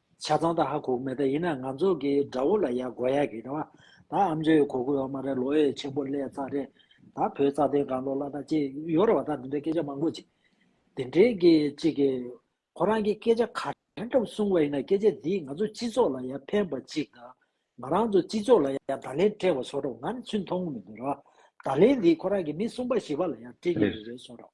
ཆ་ཚང་ད་ཧ་གོ་གི་མེད་ད་ཡིན་ན་ང་ཚོ་གི་དགྲ་བོ་ལ་ཡ་གོ་ཡ་གི་རེད་བ་ད་ཨ་མཆོད་ཡོ་གོ་གི་ཡོ་མ་རེད་ལོ་ཡེ་ཆེན་པོ་ལས་ཙག་རེད་ད་བོད་རྩ་དོན་གང་ལོ་ལ་ད་ཅི་ཡོ་རེད་བ་ད་དེ་འདྲའི་སྐད་ཆ་མང་པོ་ཅིག་དེ་འདྲའི་གི་ཅིག་གི་ཁོ་རང་གི་སྐད་ཆ་ག་དྲན་གྲབ་གསུང་བ་ཡིན་ན་སྐད་ཆ་དེས་ང་ཚོ་སྤྱི་ཚོགས་ལ་ཡ་ཕན་པ་ཅིག་ད་ང་རང་ཚོ་སྤྱི་ཚོགས་ལ་ཡ་ད་ལེན་སྤྲད་བ་སོ་རོག་ང་ཚོས་མཐོང་གི་མི་འདུག་རེད་བ་ད་ལེན་དེས་ཁོ་རང་གི་མི་གསུམ་པ་བཞི་པ་ལ་ཡ་སྤྲད་གི་རེད་བསོ་རོག།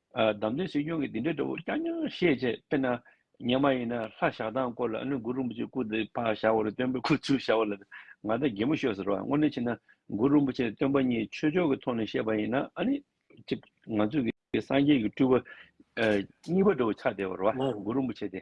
བདམས་ཐོན་སྲིད་སྐྱོང་གིས་འདི་འདྲའི་སྒྲོ་བསྐྱར་ཉར་བཤད་བྱས་དཔེར་ན། ངས་མ་ཡིན་ན་ལྷ་བཞག་སྟངས་སྐོར་ལ་ཨ་ནུ་གུ་རུ་པུ་ཅེ་སྐུ་དེ་ཕག་བཞག་བོར་སྟོན་པའི་ཁུ་ཚུར་བཞག་བ་ལ་ང་ད་གད་མོ་ཤོར་ཟེར་བ་དངོས་གནས་བྱས་ན་གུ་རུ་པུ་ཅེ་སྟོན་པ་གཉིས་ཆོས་ཕྱོགས་ཀྱི་ཐོག་ནས་བཤད་པ་ཡིན་ན་ཨ་ནི། གཅིག་ང་ཚོས་ཀྱི་སངས་རྒྱས་ཀྱི་སྤྲུལ་བ། གཉིས་པ་སྒྲོ་བོ་ཆགས་བདེ་བར་བ་གུ་རུ་པུ་ཅེ་སྟེ།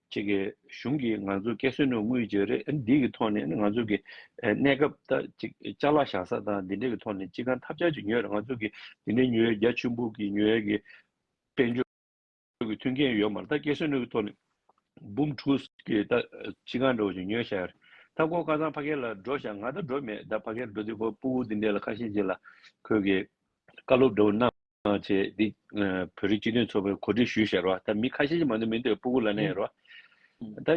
ཁྱེད་ཀྱི་གཞུང་གིས་ང་ཚོར་བཀལ་སོན་ནུས་དངུལ་བརྗེ་རེས་འདི་གི་ཐོག་ནས་ང་ཚོ་གི་གནས་སྐབས་ད་ཅིག་ལྕགས་ལ་བཞག་ས་དང་འདི་འདྲའི་གི་ཐོག་ནས་ཅི་གང་ཐབས་ཆག་ཅིག་ཉོས་རེས་ང་ཚོ་གི་འདི་འདྲའི་ཉོས་རྒྱ་ཆུན་པོ་གི་ཉོས་ཡ་གི་དཔལ་འབྱོར་གི་མཐུན་རྐྱེན་ཡོད་མ་རེད་ད་བཀལ་སོན་ནུས་གི་ཐོག་ནས་འབུམ་ཕྲུག་གི་ད་ཅི་གང་འདྲ་བོ་ཅིག་ཉོས་བཞག་ཡ་རེད་ད་ཁོ་ཁ་སང་ཕ་གི་ལ་འགྲོ་བཞག་ང་ད་འགྲོ་མེད་ད་ཕ་གི་ལ་འགྲོ་དུས་ཁོ་སྤུ་བོ་འདི་འདྲའི་ལ་ཁ་ཤས་ཅིག་ལ་ཁོས་གི་བཀའ་སློབ་འདྲ་བོ་གནང། ཅེས་འདི་བོད་རིགས་སྤྱི་མཐུན་ཚོགས་པའི་གོ་སྒྲིག་ཞུས་ཞེས་རོ་ད་མི་ཁ་ཤས་ཀྱིས་མ་འདུག་མི་འདུག་སྤུ་གུ་ལ་ནས་རོ་ད་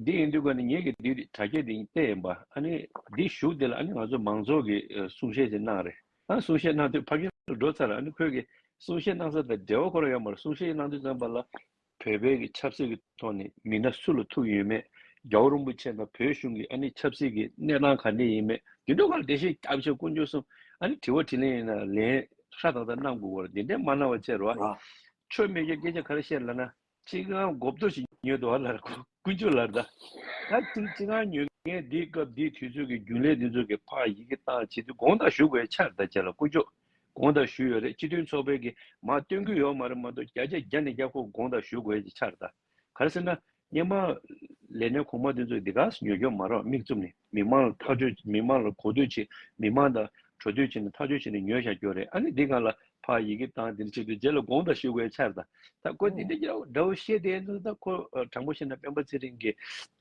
འདི་ཡིན་དུས་ཀ་ནི་ངེད་ཀྱིས་འདི་དྲ་རྒྱ་འདི་སྟེ་ཡིན་པ་ཨ་ནི་འདི་བཞུགས་འདི་ལ་ཨ་ནི་ང་ཚོ་མང་ཚོགས་ཀྱིས་གསུང་བཤད་ཅིག་གནང་རེ་ཨ་གསུང་བཤད་གནང་དུས་ཕ་རྒན་འགྲོ་ཚར་ཨ་ནི་ཁོས་གསུང་བཤད་གནང་ས་དང་འབྲེལ་བ་ཁོ་རང་ཡོད་མ་རེད་གསུང་བཤད་གནང་དུས་ཙམ་པ་ལ་བོད་བོད་ཀྱི་ཆབ་སྲིད་ཀྱི་ཐོག་ནས་མི་སྣ་སུ་ལ་ཐུག་ཡོད་མེད་རྒྱ་བོ་རིན་པོ་ཆེ་དང་བོད་གཞུང་གི་ཨ་ནི་ཆབ་སྲིད་ཀྱི་གནས་སྟངས་ག་འདྲས་ཡིན་མེད་དེ་འདྲ་གང་དེ་བཞིན་སྐྱབས་བཅོལ་དཀོན་མཆོག་གསུམ་ཨ་ནི་དྲི་བ་དྲིས་ལན་ཡིན་ན་ལན་ཧྲ་ཐག་ཐག་གནང་དགོས་བར་དེ་འདྲས་མ་གནང་བ་ཆེར་བ་ཆོས་སྨད་རྒྱའི་སྐད་ཆ་ག་རེ་བཤད་ལ་ན་ཅི་གང་མགོ་བསྡོ་ཞིག་ཉོས་འདུག་ཨ་ལར་དཀོན་མཆོག་ལར་ད་ད་ཅི་ཅི་གང་ཉོས་མཁན་འདི་སྐབས་འདི་དུས་ཚོད་ཀྱི་རྒྱུན་ལས་འདི་ཚོ་གི་ཕ་ཡི་གི་ཏང་བྱེད་དུས་དགོངས་དག་ཞུ་དགོས་ཡ་ཆར་ད་ཁྱེད་ལ་དཀོན་མཆོག། དགོངས་དག་ཞུས་ཡོད་རེད་སྤྱི་མཐུན་ཚོགས་པའི་གིས་མ་བཏོན་རྒྱུ་ཡོད་མ་རེད་མ་གཏོགས་བརྒྱ་ཆ་བརྒྱ་ནས་བརྒྱ་ཁོ་དགོངས་དག་ཞུ་དགོས་ཀྱི་ཆར་ད་ག་རེ་ཟེར་ན། སྙན་མ། ལས་སྣེ་གོང་མ་དེ་ཚོས་འདི་ག་ཉོས་ཀྱོ་མ་རོགས་མིག་བཙུམ་ནས་མི་མང་ལ་ཐག་གཅོད་མི་མང་ལ་གོ་བསྡུར་བྱེད་མི་མང་དང་གྲོ་བསྡུར་བྱེད་ནས་ཐག་གཅོད་བྱེད་ནས་ཉོས་བཞག་ཀྱོ་རེད་ཨ་ནི་འདི་ག་ལ་ཕར་ཡི་གེ་བཏང་དེ་འདྲ་བྱེད་དུས་རྗེས་ལ་དགོངས་དག་ཞུ་དགོས་ཀྱི་ཆར་ད་ད་ཁོ་འདི་འདྲ་འདྲ་བོ་བཤད་དེ་ད་ཁོ་དྲང་པོ་བཤད་ན་སྤེན་པ་ཚེ་རིང་གིས་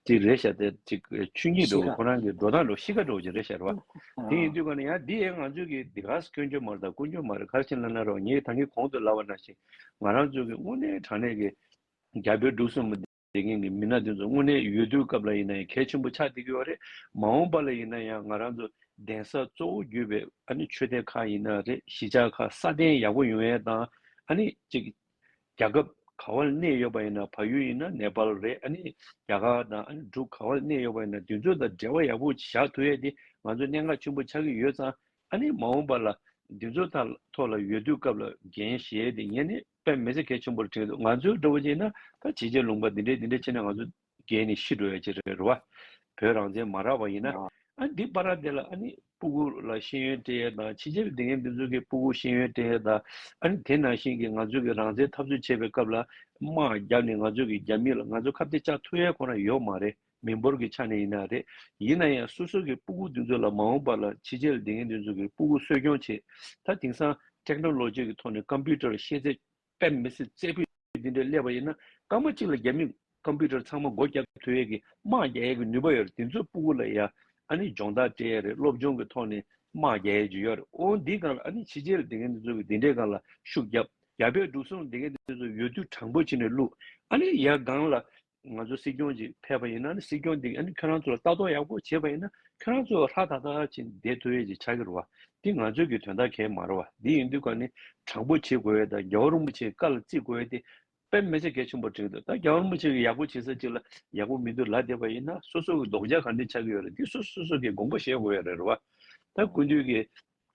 ཅིག་རེད་ཤག་དེ་ཅིག་ཆུ་གཉིས་འགྲོ་གི་ཁོ་རང་གི་འགྲོ་སྟངས་འགྲོ་གི་གཤིས་ཀ་འགྲོ་གི་རེད་ཤག་རེད་བ། དེ་ཡིན་དུས་ག་ནས་ཡང་འདི་ཡས་ང་ཚོས་ཀྱི་འདི་ག་སྐྱོན་བརྗོད་མར་དང་ཀུན་སྐྱོན་མར་གར་ཕྱིན་ལ་ན་རོགས་ངས་ད་ངས་གོང་དུ་ལབ་བ་ན་བཞིན་ང་རང་ཚོས་ཀྱི་དངོས་གནས་དྲང་གནས་ཀྱི་རྒྱ་བོད་འབྲུག་གསུམ་བདེ་རྒན་གྱི་མི་སྣ་དེ་ཚོ་དངོས་གནས་ཡོད་དུས་སྐབས་ལ་ཡིན་ན་ཡང་གལ་ཆེན་པོ་ཆགས་བསྡད་ཀྱི་ཡོད་རེད་མ་འོངས་པ་ལ་ཡིན་ན་ཡང་ང་རང་ཚོ་གདན་ས་གཙོ་བོ་བརྒྱུད་པའི་ཨ་ནི་ཆོས་སྡེ་ཁག་ཡིན་ན་རེད་གཞིས་ཆགས་ཁག་སྲ་བརྟན་ཡག་པོ་ཡོང་ཡས་དང་ཨ་ནི་ཅིག། རྒྱ་ཁབ་ག་བར་གནས་ཡོད་པ་ཡིན་ན་བལ་ཡུལ་ཡིན་ན་ནེ་པལ་རེད་ཨ་ནི་རྒྱ་གར་དང་ཨ་ནི་འབྲུག་ག་བར་གནས་ཡོད་པ་ཡིན་ན་དེ་ཚོ་དང་འབྲེལ་བ་ཡག་པོ་བཞག་ཐུ་ཡས་དེ་ང་ཚོ་གནད་འགག་ཆེན་པོ་ཆགས་ཀྱི་ཡོད་ཙང་ཨ་ནི་མ་འོངས་པ་ལ་དེ་ཚོ་ཐ་ཐོག་ལ་ཡོད་དུས་སྐབས་ལ་རྒན་གཞས་དེ་ངས་ནི་དཔེ་མི་ཚེ་གལ་ཆེན་པོར་དྲན་འདུག་ང་ཚོའི་འགྲོ་བ་ཅིག་ཡིན་ན་ད་བྱས་རྗེས་ལུང་པ་འདི་འདྲས་འདི་འདྲས་བྱས་ན་ང་ཚོ། རྒས་ནས་ཤི་འགྲོ་ཡ་ཅི་རེད་རེད་བ། བོད་རང་བཙན་མ་རག་པ་ཡིན་ན། ཨ་འདི་པ་ར་འདི་ལ་ཨ་ནི་སྤུ་གུ་ལ་ཤེས་ཡོན་སྤྲད་ཡ་དང་ཕྱི་རྒྱལ་བ་འདི་ངའི་མི་ཚོ་གི་སྤུ་གུ་ཤེས་ཡོན་སྤྲད་ཡ་དང་ཨ་ནི་དེ་ནང་བཞིན་གི་ང་ཚོ་གི་རང་བཙན་འཐབ་རྩོད་བྱེད་པའི་སྐབས་ལ་དམག་རྒྱབ་ནས་ང་ཚོ་གི་རྒྱ་མི་ལ་ང་ཚོ་ཁ་བདེ་ཅག་ཐུག་ཡ་ཁོ་ན་ཡོད་མ་རེད་མི་འབོར་གི་ཆ་ནས་ཡིན་ན་རེད་ཡིན་ན་ཡང་སོ་སོ་གི་སྤུ་གུ་འདི་ཚོ་ལ་མ་འོངས་པ་ལ་ཕྱི་རྒྱལ་བ་འདི་ངའི་འདི་ཚོ་གི་སྤུ་གུ་གསོད་སྐྱོང་བྱེད་ད་དེང་སང Technology གི་ཐོག་ནས Computer ཤེས་ཚད་པད་མི་སྲིད་རྩེ་ཕུད་འདི་འདྲས་སླེབས་པ་ཡིན་ན་སྐར་མ་གཅིག་ལ་རྒྱ་མིས་ཀམ་པུའུ་ཏར་ཚང་མ་སྒོ་བརྒྱབ་ཐུ་ཡས་ཀྱི་དམག་རྒྱ་ཡས་ཀྱི་ནུས་པ་ཡོད་རེད་དེ་ཚོའི་སྤུ་གུ་ལ་ཡ་ཨ་ནི་སྦྱོང་བརྡར་སྤྲད་ཡས་རེད་སློབ་སྦྱོང་གི་ཐོག་ནས་དམག་རྒྱ་ཡས་ཀྱི་ཡོད་རེད་ཨོ་འདི་སྒང་ལ་ཨ་ནི་ཕྱི་རྗེས་ལ་དེ་མཁན་དེ་ཚོ་གི་དེ་འདྲས་སྒང་ལ་ཤུགས་རྒྱབ་རྒྱ་བལ་འབྲུག་སོང་དེ་མཁན་དེ་ཚོ་ཡོད་དུས་དྲང་པོ་བྱེད་ནས་བླུག་ཨ་ནི་ཡ་སྒང་ལ་ང་ཚོ་སྲིད་སྐྱོང་ཅིག་ཕེབས་པ་ཡིན་ན་ནི་སྲིད་སྐྱོང་དེ་གིས་ཁྱོད་རང་ཚོ་ལ་ལྟ་རྟོག་ཡག་པོ་བྱེད་པ་ཡིན་ན་ཁྱོད་རང་ཚོ་ཧྲ་ཐག་ཐག་ཅིག་བསྡད་ཐུབ་ཡས་ཅིག་ཆགས་ཀྱི་རེད་བ། འདི་ང་ཚོའི་གི་དོན་དག་གས་མ་རེད་བ། འདི་ཡིན་དུས་ཀ་ནི་དྲང་པོ་བྱེད་དགོས་ཡས་དང་རྒྱལ་བ་རིན་པོ་ཆེ་བཀའ་ལ་བརྩི་དགོས་ཡས་དེ་དཔེ་མེད་ཆ་གས་ཆེན་པོ་དྲན་གི་འདུག་ད་རྒྱལ་བ་རིན་པོ་ཆེ་གིས་ཡག་པོ་བྱེད་ས་ཅིག་ལ་ཡག་པོ་མི་འདུག་ལབ་བསྡད་པ་ཡིན་ན་སོ་སོ་གི་ལྡོག་ཆ་ག་འདྲས་ཆགས་ཀྱི་ཡོད་རེད་འདི་སོ་སོ་སོ་སོ་གས་དགོངས་པ་བཞེས་དགོས་ཡས་རེད་བ། ད་དགུན་དུས་ཀྱི་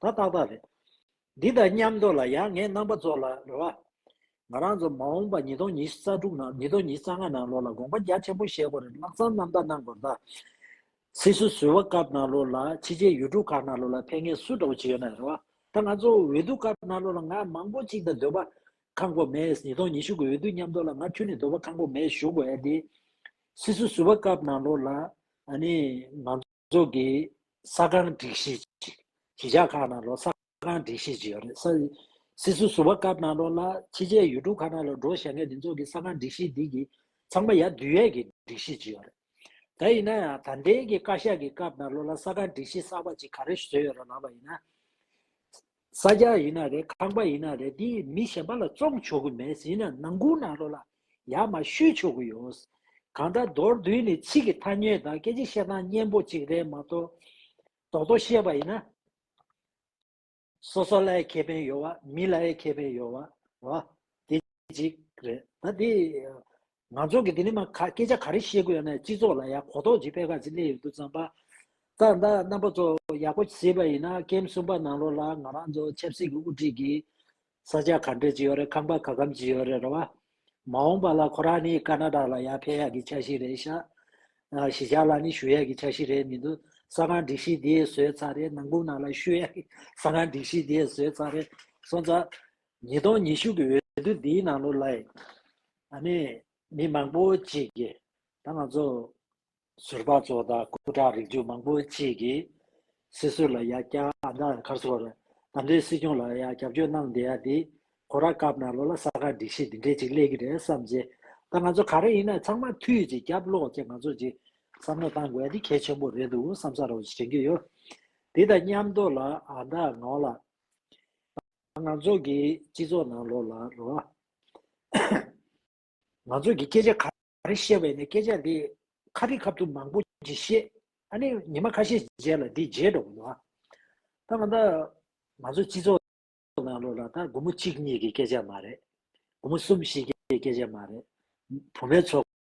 ད་ཏག་ཏག་རེད། འདི་དང་མཉམ་འདོགས་ལ་ཡང་ངས་རྣམ་པ་ཚོ་ལ་རེ་བ། ང་རང་ཚོ་མ་འོངས་པ་ཉིས་སྟོང་ཉིས་རྩ་དྲུག་ནང་ཉིས་སྟོང་ཉིས་རྩ་ལྔ་ནང་ལོགས་ལ་དགོངས་པ་རྒྱ་ཆེན་པོ་བཞེས་དགོས་རེད་ལག་བརྩམས་རྣམ་དག་གནང་དགོས་རེད་ད། སིད་སུ་སུལ་བ་ཀར་ནང་ལོགས་ལ་ཕྱི་རྗེས་ཡུལ་གྲུ་ཁག་ནང་ལོགས་ལ་ཕན་ངེས་སུ་འདྲ་བོ་ཅིག་ཡོད་ན་རེ་བ། ད་ང་ཚོ་འོས་བསྡུ་ཀར་ནང་ལོགས་ལ་ང་མང་པོ་ཅིག་དང་སྡོད་པ་ཁང་གོ་མེད་ཉིས་སྟོང་ཉི་ཤུ་གི་འོས་བསྡུ་མཉམ་འདོགས་ལ་ང་ཁྱོད་ནི་སྡོད་པ་ཁང་གོ་མེད་བཞུགས་དགོས་ཨེ་དེ། སིད་སུ་སུལ་བ་ཀར་ནང་ལོགས་ལ་ཨ་ནི་ང། ཚོགས་ཀྱི་ས་ཁང་སྒྲིག་གཞི་ཅིག་གཞིས་ཆགས་ཁག་ནང་ལོགས་ས་ཁང་སྒྲིག་གཞི་ཅིག་ཡོད་རེད། སིད་སུ་སུ་བ་སྐབས་ནང་ལོགས་ལ་ཕྱི་རྒྱལ་ཡུལ་གྲུ་ཁག་ནང་ལོགས་འགྲོ་ཞེ་ངས་འདི་ཚོགས་ཀྱི་ས་ཁང་སྒྲིག་གཞི་འདི་གི་ཚང་མ་ཡ་དུས་ཡས་ཀྱི་སྒྲིག་གཞི་ཅིག་ཡོད་རེད། ད་ཡིན་ན་ཡང་ད་ལྡན་གྱི་བཀའ་ཤག་གི་སྐབས་ནང་ལོགས་ལ་ས་ཁང་སྒྲིག་གཞི་གསར་བ་ཅིག་ག་རེ་བཟོས་ཡོད་ར་ལབ་པ་ཡིན་ན། ས་སྐྱ་ཡིན་ན་རེད་ཁང་པ་ཡིན་ན་རེད་འདི་མི་གཞན་པ་ལ་བཙོང་ཆོག་གི་མེད་ཡིན་ན་ནང་ཁུང་ནང་རོ་ལ་ཡར་མར་བཤུས་ཆོག་གི་ཡོད། གང་ལྟར་མདོར་བསྡུས་ནས་ཚིག་གི་ཐ་སྙད་དང་སྐད་ཆ་བཤད་སྟངས་སྙན་པོ་གཅིག་རེད་མ་གཏོགས། རྡོག་རྡོག་བཤད་པ་ཡིན་ན། སོ་སོ་ལའི་ཁེ་ཕན་ཡོད་བ་མི་ལའི་ཁེ་ཕན་ཡོད་བ། དེ་གཅིག་རེད། ད་དེ། ང་ཚོ་གི་འདི་ནི་མ་ག་སྐད་ཆ་ག་རེ་བཤད་དགོས་ཡོད་ན་སྤྱི་ཚོགས་ལ་ཡ་གོ་ཐོག་ཅིག་སྤེལ་ག་ཟིག་སླེ་ཡོད་འདུག་ཙང་པ། ད་ད་རྣམ་པ་ཚོ་ཡག་པོ་གཟིགས་པ་ཡིན་ན་ཀེམ་གསུམ་པ་ནང་ལོག་ལ་ང་རང་ཚོ་ཆབ་སྲིད་ཀྱི་དབུ་ཁྲིད་ཀྱི་ས་ཆ་ག་འདྲས་ཅིག་ཡོད་རེད་ཁང་པ་ག་གམ་ཅིག་ཡོད་རེད་རེད་བ། མ་འོངས་པ་ལ་ཁོ་རང་ནི་ཀ་ན་ད་ལ་ཡ་ཕེ་ཡག་གི་ཆ་ཞིག་རེད་ཤག་གཞི་ཆགས་ལ་ནི་ཞུ་ཡག་གི་ཆ་ཞིག་རེད་མི་འདུག་ས་ཁང་སྒྲིག་གཞི་དེ་བཟོས་ཚར་རེད་ནང་སྒུག་ནང་ལ་ཞུ་ཡག་གི་ས་ཁང་སྒྲིག་གཞི་དེ་བཟོས་ཚར་རེད་སོང་ཙང། ཉིས་སྟོང་ཉི་ཤུ་གི་འོས་བསྡུ་འདིའི་ནང་ལོག་ལ། ད་ནི་མི་མང་པོ་གཅིག་གིས་ད་ང་ཚོ་ཟུར་པ་ཚོ་དང་སྐུ་དྲག་རིགས་རྒྱུད་མང་པོ་གཅིག་གིས་སྲིད་ཟུར་ལ་ཡ་ཀྱ་ཨ་མདའ་མཁར་ཟོར་རྣམ་འདྲེའི་སྲིད་སྐྱོང་ལ་ཡ་རྒྱབ་སྐྱོར་གནང་བསྡད་ཡ་འདི་གོ་ར་སྐབས་ན་ལོ་ལ་ས་ག་འགྲིག་ཤེས་འདི་འདྲས་ཅིག་སླེ་གི་རེད་བསམ་རྗེས་ད་ང་ཚོ་ག་རེ་ཡིན་ན་ཚང་མ་ཐུས་ཅིག་རྒྱབ་ལོག་ཅིག་ང་ཚོ་ཅིག་བསམ་བློ་གཏང་དགོས་ཡ་འདི་གལ་ཆེན་པོ་རེད་འདུག་བསམ་ས་རོགས་ཞེན་གི་ཡོད་འདི་དང་མཉམ་དོ་ལ་ཨ་མདའ་ངའོ་ལ། ང་ཚོ་གི་སྤྱི་ཚོགས་ནང་ལོགས་ལ་རོལ་བ། ང་ཚོ་གི་སྐད་ཆ་ག་རེ་བཤད་བས་ནས་སྐད་ཆ་འདི་ཁ་ཐིག་ཁབ་ཐུབ་མང་པོ་ཅིག་བཤད། ཨ་ནི་ཉི་མ་ཁ་ཤས་རྗེས་ལ་འདི་བརྗེད་འགྲོ་བ། ད་ང་ད་ང་ཚོ་སྤྱི་ཚོགས་ནང་ལོགས་ལ་ད་དགུ་མོ་གཅིག་གཉིས་ཀྱི་སྐད་ཆ་མ་རེད། དགུ་མོ་གསུམ་བཞི་བརྒྱད་ཀྱི་སྐད་ཆ་མ་རེད། བུ་མོའི་ཚོགས།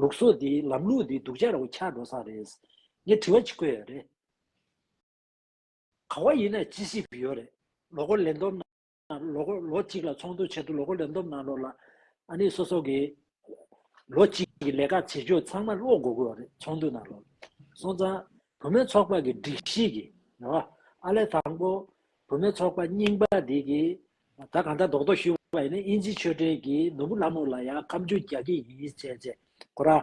ལུགས་སོགས་དེ་ལམ་ལུགས་འདི་སྡུག་ཅག་རོ་ཆག་འགྲོ་ས་རེད། ངས་དྲི་བ་གཅིག་བཀོད་ཡོད་རེད། གང་བ་ཡིན་ན་ཅི་ཞིག་ཡོད་རེད། ལོ་འཁོར་ལེན་འདོམ་ནང་ལོ་འཁོར་ལོ་གཅིག་ལ་ཚོགས་འདུ་བྱས་འདུག་ལོ་འཁོར་ལེན་འདོམ་ནང་ལོ་ལ་ཨ་ནི་སོ་སོ་གི་ལོ་གཅིག་གི་ལས་ཀ་བྱེད་ཕྱོགས་ཚང་མ་ཀློག་དགོ་དགོས་བ་རེད་ཚོགས་འདུ་ནང་ལོ་སོང་ཙང་བུ་མོའི་ཚོགས་པ་གི་སྒྲིག་གཞི་གི་ཨ་ལས་དང་པོ་བུ་མོའི་ཚོགས་པ་རྙིང་པ་དེ་གི་ད་གང་ལྟར་རྡོག་རྡོག་ཞུས་བ་ཡིན་ན་དབྱིན་ཇི་ཆོས་སྒྲོན་གྱིས་ནོར་བུ་ལྷ་མོ་ལ་ཡང་ཁམས་ཆུང་རྒྱག་གི་ཡིན་ཅེས་བཤད། ཁོ་རང།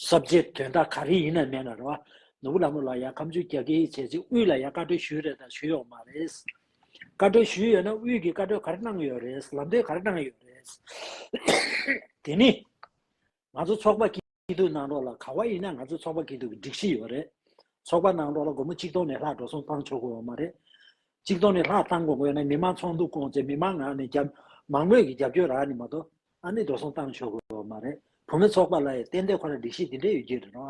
གསར་བརྗེའི་དོན་དག་ག་རེ་ཡིན་ན་མེད་ན་རེད་བ། ནོར་བུ་ལྷ་མོ་ལ་ཡང་ཁམས་ཆུང་རྒྱག་གི་ཡིན་བྱས་ཅི་དབུས་ལ་ཡང་བཀའ་འཁྲོལ་ཞུས་རེད་དང་ཞུས་ཡོག་མ་རེད། བཀའ་འཁྲོལ་ཞུས་ཡོད་ན་དབུས་ཀྱི་བཀའ་འཁྲོལ་ག་རེ་གནང་ཡོད་རེད་ལམ་སྟོན་ག་རེ་གནང་ཡོད་རེད། དེ་ནི། ང་ཚོ་ཚོགས་པ་སྐྱིད་སྡུག་གནང་རོགས་ལ་ག་བ་ཡིན་ན་ང་ཚོ་ཚོགས་པ་སྐྱིད་སྡུག་གི་སྒྲིག་གཞི་ཡོད་རེད་ཚོགས་པ་གནང་རོགས་ལ་སྒོར་མོ་གཅིག་སྟོང་ནས་ལྷག་འགྲོ་སོང་བཏང་ཆོག་དགོས་བ་མ་རེད་གཅིག་སྟོང་ནས་ལྷག་བཏང་དགོས་དགོས་ན་མི་མང་ཚོགས་འདུ་བསྐོང་ཚེ་མི་མང་ངང་ནས་རྒྱབ་མང་མོས་ཀྱི་རྒྱབ་སྐྱོར་རག་ནི་མ་གཏོགས་ཨ་ནི་འགྲོ་སོང་བཏང་ཆོག་དགོས་བ་མ་རེད་བུ་མོ་ཚོགས་པ་ལ་ཡ་ཏན་ཏན་ཁོ་ར་སྒྲིག་གཞི་འདི་འདྲ་ཡོད་ཀྱི་རེད་རོ་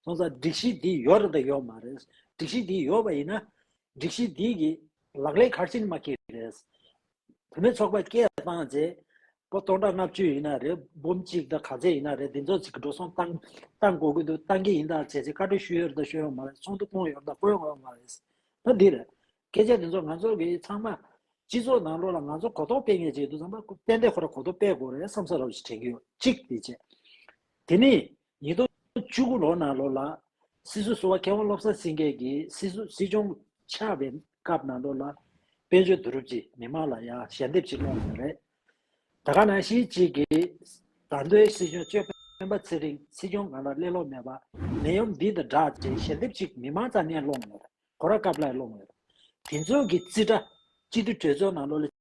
སོང་ཙང་སྒྲིག་གཞི་འདི་ཡོད་རེད་དང་ཡོད་མ་རེད་སྒྲིག་གཞི་འདི་ཡོད་བ་ཡིན་ན་སྒྲིག་གཞི་འདི་གི་ལག་ལས་ཁར་ཕྱིན་མ་ཀྱི་རེད་དེ་མིན་ཚོགས་པ་སྐད་བཏང་རྗེས་སྤོ་སྟོང་ཕྲག་ལྔ་བཅུ་ཡིན་ན་རེད་འབུམ་གཅིག་དང་ག་ཚད་ཡིན་ན་རེད་འདི་ཚོ་ཚིག་གི་འགྲོ་སོང་བཏང་བཏང་གོ་གི་འདུག་བཏང་གི་ཡིན་ད་བྱས་བྱས་བཀའ་འཁྲོལ་ཞུས་ཡོད་རེད་ད་ཞུས་ཡོད་མ་རེད་ཚོགས་འདུ་བསྐོང་ཡོད་རེད་ད་བསྐོང་ཡོད་མ་རེད་ཟེར་ན་འདི་རེད། སྐད་ཆ་འདི་ཚོ་ང་ཚོ་གིས་ཚང་མ་སྤྱི་ཚོགས་ནང་ལོགས་ལ་ང་ཚོ་གོ་རྟོགས་སྤེལ་ངེས་ཅིག་འདུག་ཚང་མ་ཏན་ཏན་ཁོ་ར་གོ་རྟོགས་སྤེལ་དགོས་རེད་བསམ་ས་རོགས་ཞེས་དྲན་གྱི་ཡོད་གཅིག་དེ་བྱས། དེ་མིན། ཉིས་སྟོང་བཅུ་དགུ་ལོ་ནང་ལོ་ལ། སྲིད་ཟུར་བསུ་བ་མཁས་དབང་བློ་བཟང་སེང་གེ་གིས་སྲིད་ཟུར་སྲིད་སྐྱོང་ཆགས་པའི་སྐབས་ནང་ལོ་ལ། དཔལ་འབྱོར་བསྡུ་རུབ་ཀྱིས་མི་མང་ལ་ཡང་ཞལ་འདེབས་ཅིག་བསློགས་ཡོད་པ་རེད། ད་ག་ནང་བཞིན་གཅིག་གིས། ད་མདོའི་སྲིད་སྐྱོང་གཅོད་སྤེན་པ་ཚེ་རིང་སྲིད་སྐྱོང་གང་ལ་གླེང་ལོག་མེད་པ། ནད་ཡོམ་འདི་དང་འདྲ་ཅེས་ཞལ་འདེབས་ཅིག་མི་མང་རྩ་ནས་བསློགས་ཡོད། གོ་ར་སྐབས་ལ་བསློགས་ཡོད། དེ་ཚོ་གི་རྩིས་ཁྲ། སྤྱི་འཐུས་གྲོས་ཚོགས་ནང་ལོ་ལ།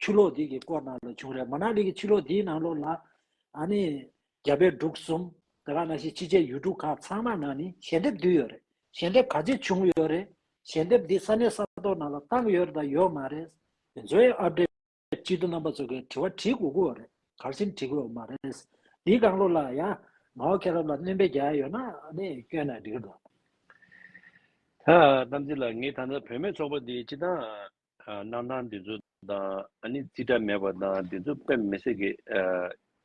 ཆུ་ལོག་དེ་གི་སྐོར་ནང་ལ་བྱུང་རེད་མ་ནག་ལི་གི་ཆུ་ལོག་དེའི་ནང་ལོག་ལ་ཨ་ནི་རྒྱ་བལ་འབྲུག་གསུམ་དེ་ག་ན་བཞི་ཕྱི་རྒྱལ་ཡུལ་གྲུ་ཁག་ཚང་མ་ནང་ནི་ཞལ་འདེབས་བསྡུས་ཡོད་རེད་ཞལ་འདེབས་ག་ཅི་བྱུང་ཡོད་རེད་ཞལ་འདེབས་དེ་ས་གནས་ས་ཐོག་ནང་ལ་བཏང་ཡོད་རེད་དང་ཡོད་མ་རེད་དེ་ཚོའི་ཨ་བྲས་སྤྱི་འཐུ་རྣམ་པ་ཚོ་གས་དྲི་བ་དྲི་དགོས་ཀི་ཡོད་རེད་གར་སེམས་དྲི་དགོས་མ་རེད་དེའི་སྒང་ལོག་ལ་ཡ་ང་བ་ཁེ་རབ་ལ་གནོན་པའི་རྒྱ་ཡ་ཡོད་ན་ཨ་ནི་སྐྱོན་ན་འགྲིག་གི་འདུག། ཨ་རྣམ་རྗེ་ལགས་ངས་ད་ནི་བོད་མའི་ཚོགས་པ་འདི་སྤྱི་དང། གནང་སྟངས་འདི་ཚོ་དང་ཨ་ནི་རྩིས་ཁྲ་མེད་པ་དང་འདི་ཚོ་དཔེ་མི་སྲིད་གི།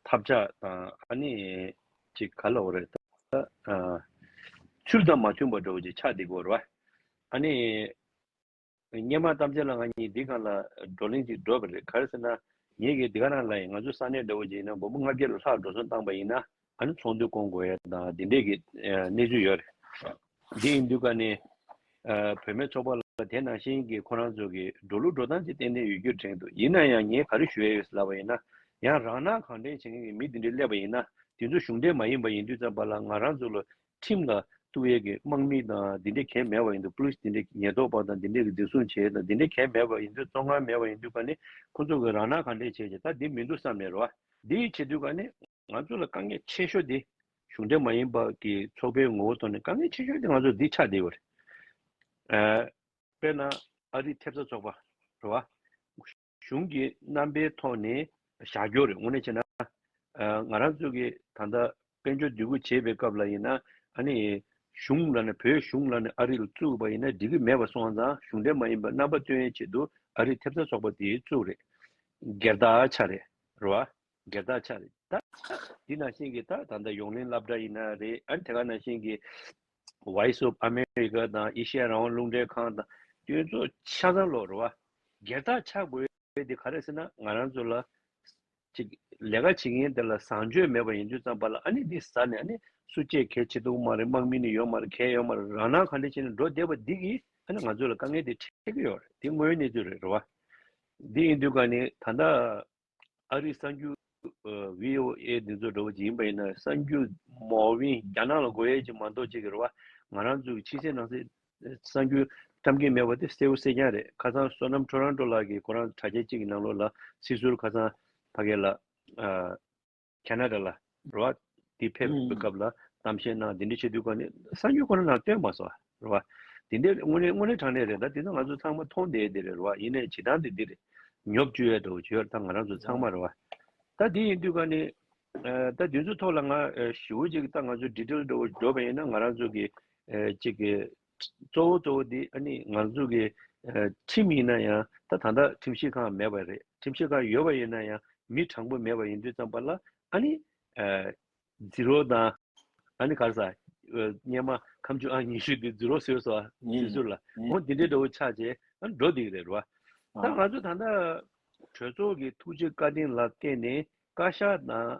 ཐབས་ཆག་དང་ཨ་ནི་ཅིག་ག་ལ་འོ་རེད་ད། ཆུར་དང་མ་ཆུང་བར་འགྲོ་བ་ཅིག་ཆགས་འདི་གོ་རེད་བ། ཨ་ནི། སྙན་མ་གཏམ་ཅན་ལ་ང་གཉིས་འདི་གང་ལ་བགྲོ་གླེང་ཅིག་འགྲོ་བ་རེད་ག་རེ་ཟེར་ན། ངེད་ཀྱིས་འདི་ག་རང་ལ་ཡིན་ང་ཚོ་ས་གནས་འདྲ་བོ་ཅིག་ཡིན་ན་མགོ་བོ་ལྔ་བརྒྱ་ལ་ལྷག་འགྲོ་སོང་བཏང་བ་ཡིན་ན། ཨ་ནི་ཚོགས་འདུ་བསྐོང་དགོས་ཡ་དང་དེ་འདྲས་ཀྱི་གནས་ཚུལ་ཡོད་རེད། དེ་ཡིན་དུས་ཀ་ནི་བོད་མའི་ཚོགས་པ་ལ་དེ་ནང་བཞིན་གྱི་ཁོ་རང་ཚོ་གི་འགྲོ་ལུགས་འགྲོ་སྟངས་ཅིག་ཏན་ཏན་ཡོད་རྒྱུ་དྲན་འདུག་ཡིན་ན་ཡང་ངས་ག་རེ་ཞུ་ཡ་ཡོད་ཟེར་ལབ་པ་ཡིན་ན་ཡང་རང་སྣང་གང་དྲན་བྱེད་མཁན་གྱི་མི་དེ་འདྲས་སླེབས་པ་ཡིན་ན་དེ་ཚོ་གཞུང་འབྲེལ་མ་ཡིན་པ་ཡིན་དུས་ཙམ་པ་ལ་ང་རང་ཚོ་ལ་ཁྲིམས་ལ་གཏུགས་ཡས་ཀྱི་དམག་མི་དང་དེ་འདྲས་གས་མེད་པ་ཡིན་དུས Police དེ་འདྲས་ཉེས་རྟོག་པ་དང་དེ་འདྲས་ཀྱི་འཛིན་བཟུང་བྱས་དང་དེ་འདྲས་གས་མེད་པ་ཡིན་དུས་གཙོ་འང་མེད་པ་ཡིན་དུས་ཀ་ནི་ཁོ་ཚོ་གི་རང་སྣང་གང་དྲན་བྱས་ཀྱི་ད་དེ་མི་འདུག་བསམ་ནས་རོ་འདི་ཡིས་བྱེད་དུས་ཀ་ནི། ང་ཚོ་ལ་དཀའ་ངལ་ཆེ་ཤོས་དེ་གཞུང་འབྲེལ་མ་ཡིན་པ་ཀྱི་ཚོགས་པའི་ངོ་བོ་ཐོག་ནས་དཀའ་ངལ་ཆེ་ཤོས་དེ་ང་ཚོ་འདི་ཆགས་བསྡད་ཡོད་རེད། དཔེར་ན་ཨ་རིའི་ཐེབས་རྩ་ཚོགས་པ་རེད་བ། གཞུང་གི་རྣམ་པའི་ཐོག་ནས་བཞག་རྒྱུ་རེད་དངོས་གནས་བྱས་ན། ང་རང་ཚོ་གི་ད་ལྟ་དཔལ་འབྱོར་སྡུད་ཁུལ་བྱེད་པའི་སྐབས་ལ་ཡིན་ན་ཨ་ནི་གཞུང་ལ་ནི་བོད་གཞུང་ལ་ནི་ཨ་རི་ལ་བཙུགས་པ་ཡིན་ན་འགྲིག་གི་མེད་པ་སོང་ཙང་གཞུང་འབྲེལ་མ་ཡིན་པར་རྣམ་པ་སྟོན་ཡའི་ཆེད་དུ་ཨ་རིའི་ཐེབས་རྩ་ཚོགས་པ་དེ་བཙུགས་རེད། སྒེར་བདག་ཆགས་རེད་བ། སྒེར་བདག་ཆགས་རེད་ད། འདི་ནང་བཞིན་གྱི་ད་ད་ལྟ་ཡོངས་གླེང་བསླབ་གྲྭ་ཡིན་ན་རེད་ཨ་དེ་ག་ནང་བཞིན་གྱི། Voice of America དང་ཨེ་ཤི་ཡ་རང་དབང་རླུང་འཕྲིན་ཁང་དང་སྐྱོན་ཚོགས་ཆ་ཚང་ལོག་རོ་བ། སྒེར་བདག་ཆགས་དགོས་དེ་ག་རེད་ཟེར་ན་ང་རང་ཚོ་ལ། ཅིག་ལས་ཀ་བྱེད་མཁན་དེ་ལ་བཟང་སྤྱོད་མེད་པ་ཡིན་དུས་ཙམ་པ་ལ་ཨ་ནི་འདི་ཟ་ནས་ཨ་ནི་སུ་བཅད་གལ་ཆེ་འདུག་མ་རེད་དམག་མི་ནི་ཡོད་མ་རེད་གལ་ཡོད་མ་རེད་རང་སྣང་ག་འདྲ་བྱས་ནས་འགྲོ་བསྡད་པ་འདི་གིས་ཨ་ནི་ང་ཚོ་ལ་དཀའ་ངལ་དེ་འཕྲད་ཀྱི་ཡོད་རེད་འདི་དངོས་ཡོད་གནས་ཚུལ་རེད་རོ་བ། འདི་ཡིན་དུས་ག་ནི་ད་ད། ཨ་རིའི་གསར་འགྱུར། VOA། འདི་ཚོ་འགྲོ་བ་ཅིག་ཡིན་པ་ཡིན་ན་གསར་འགྱུར་མོ་བིན་རྒྱ་ནག་ལ་དགོས་ཡས་ཅིག་མ་འདོག་ཅིག་གི་རེད་བ། ང་རང་ཚོའི་ཕྱི་གསལ་ནང་གསལ་གསར་འགྱུར་བཀྲམ་གིན་མེད་བ་དེ་གསལ་བོ་གསལ་རྐྱང་རེད་ཁ་སང་བསོད་ནམས་ཁྲོ་རང་ཁྲོ་ལགས་ཀྱི་ཁོ་རང་དྲ་རྒྱ་ཅིག་གི་ནང་ལོགས་ལ་སྲིད་ཟུར་ཁ་སང་བྷ་གའི་ལགས། Canada ལ་རེད་བ། དེ་ཕེབས་པའི་སྐབས་ལ་གཏམ་བཤད་གནང་དེ་འདྲའི་ཆེ་བསྟོད་བཀའ་ནན་གསང་རྒྱུ་ཁོ་ན་ནང་སྟོན་མ་སོང་རེད་བ། དེ་འདྲའི་དངོས་གནས་དངོས་གནས་དྲང་གནས་རེད་ད་དེ་ཚོ་ང་ཚོ་ཚང་མ་མཐོང་བསྡད་དེ་རེད་བ་ཡིན་ནས་བྱེད་སྟངས་དེ་འདིར་ཉོབ་བཅུག་ཡོད་དོ་བྱེད་ཡོད་ད་ང་རང་ཚོ་ཚང་མ་རེད་བ། ད་དེ་ཡིན་དུས་ཀ་ནས་ད་དེ་ཚོའི་ཐོག་ལ་ང་ཞི་བོ་ཅིག་ད་ང་ཚོ་འདྲི་བྲལ་འགྲོ་བ་ཡིན་ན་ང་རང་ཚོ་གི་ཅིག་གཙོ་བོ་གཙོ་བོ་དེ་ང་ཚོ་གི་ཁྲིམས་ཡིན་ན་ཡང་ད་ད་ལྟ་ཁྲིམས་ཞིབ་ཁང་མེད་པ་རེད་ཁྲིམས་ཞིབ་ཁང་ཡོད་པ་ཡིན་ན་ཡང་མི་དྲང་པོ་མེད་པ་ཡིན་དུས་ཙམ་པ་ལ་ཨ་ནི་རྫི་རོ་དང་ཨ་ནི་གར་ས་སྙེ་མ་ཁམ་ཆུ་ཨང་ཉི་ཤུ་དེ་རྫི་རོ་ཟོས་སོ་ཟོས་ཟོས་ལ་འོ་དེ་འདྲའི་འདྲ་བོ་ཆགས་རྗེས་འགྲོ་དེ་རེད་རེད་བ། ད་ང་ཚོ་ད་ལྟ་གྲོས་ཚོགས་ཀྱི་ཐུགས་རྗེ་བཀའ་དྲིན་ལ་བརྟེན་ནས་བཀའ་ཤག་དང།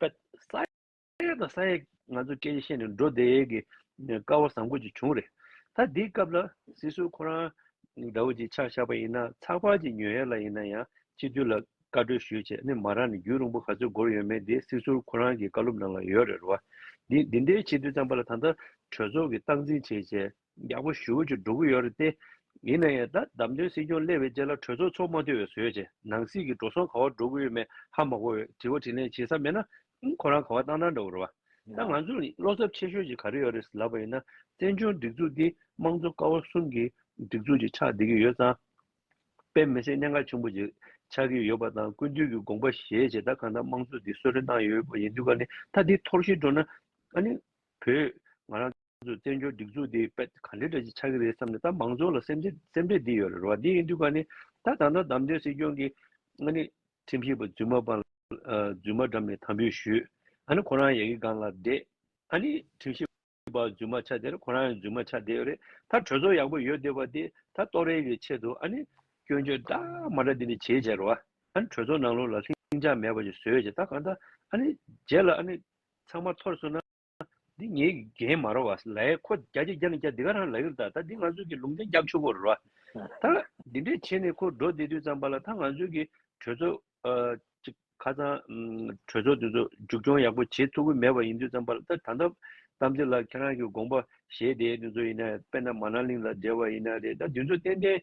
པ། ས་ཡ་དང་ས་ཡ་ང་ཚོ་སྐད་ཆ་བཤད་ནས་འགྲོ་བསྡད་ཀྱི་དཀའ་བ་བཟང་པོ་ཅིག་བྱུང་རེད། ད་འདི་སྐབས་ལ་སྲིད་སྲོལ་ཁོ་རང་འདྲ་བོ་ཅིག་ཆགས་བཞག་པ་ཡིན་ན་ཚགས་པར་གྱི་ཉོས་ཡ་ལ་ཡིན་ན་ཡང་སྤྱི་འཐུས་ལ་བཀའ་འཁྲོལ་ཞུས་བྱས་ནི་མ་རག་ནས་རྒྱུན་རིང་པོ་ག་ཚོད་འགོར་ཡོད་མེད་དེ་སྲིད་སྲོལ་ཁོ་རང་གི་བཀའ་སློབ་ནང་ལ་ཡོད་རེད་རོ། འདི་འདི་འདྲའི་སྤྱི་འཐུས་ཚང་པ་ལ་ད་ལྟ་གྲོས་ཚོགས་ཀྱི་སྟངས་འཛིན་བྱས་བྱས། རྒྱག་པོ་ཞུ་རྒྱུ་འགྲོ་གི་ཡོད་རེད་དེ། ཡིན་ན་ཡང་ད་བདམས་ཐོན་སྲིད་སྐྱོང་སླེབས་པའི་རྗེས་ལ་གྲོས་ཚོགས་ཚོགས་མ་འཐུས་བའི་ཟོལ་བྱས། ནང་སྲིད་ཀྱི་འགྲོ་སོང་ག་བ་འགྲོ་གི་ཡོད་མེད་ཧ་མ་གོ་འོས། དྲི་བ་དྲིས་ལན་བྱེད་ས་མེད་ན། ཁོ་རང་ག་བ་བཏང་ན་འདྲ་བོ་རེད་བ། ད་ང་ཚོ་བློ་འཚབ་ཆེ་ཤོས་ཀྱི་ག་རེ་ཡོད་རེད་ལབ་པ་ཡིན་ན། བཙན་བྱོལ་སྒྲིག་འཛུགས་འདི་དམངས་གཙོ་ཀ་བ་གསུམ་གྱི་སྒྲིག་འཛུགས་ཀྱི་ཆགས་བསྡད་ཀྱི་ཡོད་ཙང། དཔེ་མི་སྲིད་གནད་འགག་ཆེན་པོ་ཅིག་ཆགས་ཀྱི་ཡོད་པ་དང་ཀུན་བཏུས་ཀྱི་དགོངས་པ་བཞེས་རྗེས་ད་ག་འདྲ་དམངས་གཙོ་འདི་གསོད་རེ་གནང་ཡོད་པ་ཡིན་དུས་ཀ་ནི་ད་འདི་འཐོར་ཤི་འགྲོ་ན། ཨ་ནི། བོད། ང་རང། ཚོས་བཙན་བྱོལ་སྒྲིག་འཛུགས་འདི་ག་འདྲ་འདྲ་ཅིག་ཆགས་ཀྱི་རེད་བསམ་ནས་ད་མང་ཚོགས་ལ་སེམས་ཁྲལ་འདི་ཡོད་རེད་རོ་འདི་ཡིན་དུས་ག་ནས་ད་ད་ལྟ་བདམས་ཐོན་སྲིད་སྐྱོང་གི་ཨ་ནི་ཁྲིམས་ཞིབ་པ་རྫུན་མ་པ་ལ་རྫུན་མ་འགྲམ་ནས་དམ་འབུལ་ཞུས་ཨ་ནི་ཁོ་རང་ཡག་གི་སྒང་ལ་བསྡད་ཨ་ནི་ཁྲིམས་ཞིབ་པ་རྫུན་མ་ཆ་དེར་ཁོ་རང་ཡང་རྫུན་མ་ཆ་བསྡད་ཡོད་རེད་ད་གྲོས་ཚོགས་ཡག་པོ་ཡོད་བསྡད་པ་དེ་ད་ལྟོགས་རེས་ཀྱི་ཆེད་དུ་ཨ་ནི་སྐྱོན་བརྗོད་འདྲ་མ་འདྲ་འདི་ནས་བྱས་བྱས་རོ་ཨ་ནི་གྲོས་ཚོགས་ནང་ལོགས་ལ་ལྷིང་འཇགས་མེད་པ་ཅིག་བཟོས་བྱས་ད་གང་ལྟ་ཨ་ནི་རྗེས་ལ་ཨ་ནི་ཚང་མ་ཐོར་སོང་ན། འདི་ངའི་རྒན་མ་རོ་བ་ལ་ཡེ་ཁོ་རྒྱ་རྒྱ་རྒྱ་ནི་རྒྱ་འདི་ག་རང་ལ་ཡོད་ད་ད་འདི་ང་ཚོས་ཀྱི་ལུང་བསྟན་རྒྱབ་ཆུ་བོར་རོ་ད་འདི་འདྲས་བྱས་ནས་ཁོ་འགྲོ་བདེ་དུས་ཙམ་པ་ལ་ད་ང་ཚོས་ཀྱི་གྲོས་ཚོགས་ཁ་ཚང་གྲོས་ཚོགས་དེ་ཚོ་མཇུག་སྐྱོང་ཡག་པོ་བྱེད་ཐུབ་ཀྱི་མེད་པ་ཡིན་དུས་ཙམ་པ་ལ་ད་ད་ལྟ་གཏམ་ཚེ་ལགས་ཁྱེད་རང་གི་དགོངས་པ་བཞེས་དེ་དེ་ཚོ་ཡིན་ན་དཔེར་ན་མ་ན་ལིང་ལ་འབྲེལ་བ་ཡིན་ན་རེད་ད་འདི་ཚོ་ཏན་ཏན་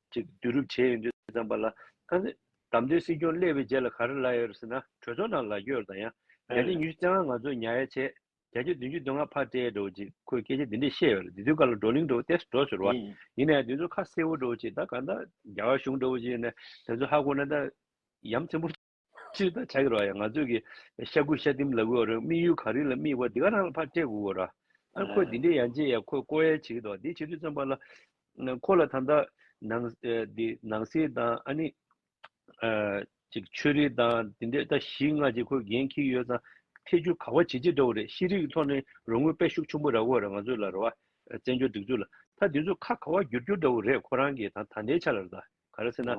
ཅིག་བསྡུ་རུབ་བྱས་ཡོད་འདུག་དེ་ཙམ་པ་ལ། དམ་དོན་སྲིད་སྐྱོང་སླེབས་པའི་རྗེས་ལ་ག་རེ་ལབ་ཡོད་རེད་ཟེར་ན་གྲོས་ཚོགས་ནང་ལག་འཁྱེར་དང་ཡང་བརྒྱ་ཆ་ཉི་ཤུ་རྩེ་ལྔ་ང་ཚོས་ཉའ་ཡ་བྱས་བརྒྱ་ཆ་བདུན་ཅུ་དོན་ལྔ་ཕར་སྤྲད་འགྲོ་ཅིག་ཁོས་སྐད་ཆ་འདི་འདྲས་བཤད་ཡོད་རེད་དེ་དུས་སྐར་ལ་བགྲོ་གླེང་འགྲོ་བ་ཏེ་འགྲོ་ཟེར་བ་ཡིན་ན་ཡང་དེ་ཚོ་ཁ་གསལ་བོ་འགྲོ་ཅིག་ད་ག་ད་རྒྱ་གར་གཞུང་འགྲོ་བ་ཅིག་ཡིན་ན་དེ་ཚོ་ཧ་གོ་ན་ད་ཡམ་ཚིམ་པོ། སྤྱིར་བདག་ཅག་གི་རོ་ཡ་ང་ཚོས་ཀྱི། ཤ་དགུ་ཤ་ཏིམ་ལ་གོའོ་རང་དམིགས་ཡུལ་གངས་རི་ལ་དམིགས་པ་འདི་ག་རང་ལ་ཕར་སྤྲད་གོའོ་ར། ཨ་ཁོས་འདི་འདྲའི་ཡ་མཇེ་ཡ་ཁོས་ཀོ་ཡ་བྱེད་ཀྱི་འདུག་དེ་བྱེད་དུས་བརྩོན་པ་ལ། ཁོ་ལ་ད་ལྟ། ནང། འདི། ནང་སེལ་དང་ཨ་ནི། ཅིག་ཆོས་རིག་དང་འདི་འདྲའི་ལྟ་གཞི་ལྔ་ཅིག་ཁོས་འགན་འཁྱིལ་ཡོད་ཙང། ཐེ་ཇུས་ག་བ་བྱེད་ཅི་འདྲ་བོ་རེད་ཤེས་རིག་གི་ཐོག་ནས་རོ་དངུལ་དཔལ་ཤུགས་ཆུང་པོ་ར་གོ་ར་ང་ཚོས་ལ་རོ་བ། བཙན་བྱོལ་སྒྲིག་འཛུགས་ལ། ད་འདི་ཚོས་ཁ་ག་བ་བསྒྱུར་རྒྱུ་འདྲ་བོ་རེད་ཁོ་རང་གི་ད་ད་ལྟའི་ཆ་ལ་ར་ད། ག་རེ་ཟེར་ན།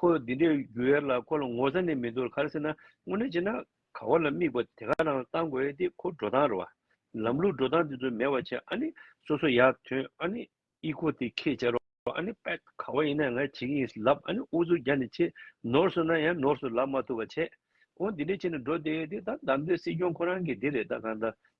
ཁོ་འདི་འདྲའི་རྒྱུ་ཡར་ལ་ཁོ་ལ་ངོ་ཚ་ནས་མི་འདུག་ལ་ག་རེ་ཟེར་ན་དངོས་གནས་བྱས་ན་ག་བ་ལ་དམིགས་པ་དེ་ག་རང་བཏང་དགོས་ཡས་དེ་ཁོ་འགྲོ་སྟངས་རེད་བ། ལམ་ལུགས་འགྲོ་སྟངས་དེ་ཚོ་མེད་བ་བྱས་ཨ་ནི་སོ་སོ་ཡར་ཐོན་ཨ་ནི་ཨི་ཁོ་དེ་ཁས་བཅར་རོགས་ཨ་ནི་པད་ག་བ་ཡིན་ན་ང་བྱེད་ཀྱི་ཡིན་ཟེར་ལབ་ཨ་ནི་ཨུ་ཚུགས་རྒྱག་ནས་བྱེད་ནོར་སོང་ན་ཡང་ནོར་སོང་ལབ་མ་ཐུབ་བ་བྱས་ཨོ་འདི་འདྲའི་བྱས་ནས་འགྲོ་དེ་དེ་ད་བདམས་ཐོན་སྲིད་སྐྱོང་ཁོ་རང་གི་དེ་རེད་ད་གང་ལྟར་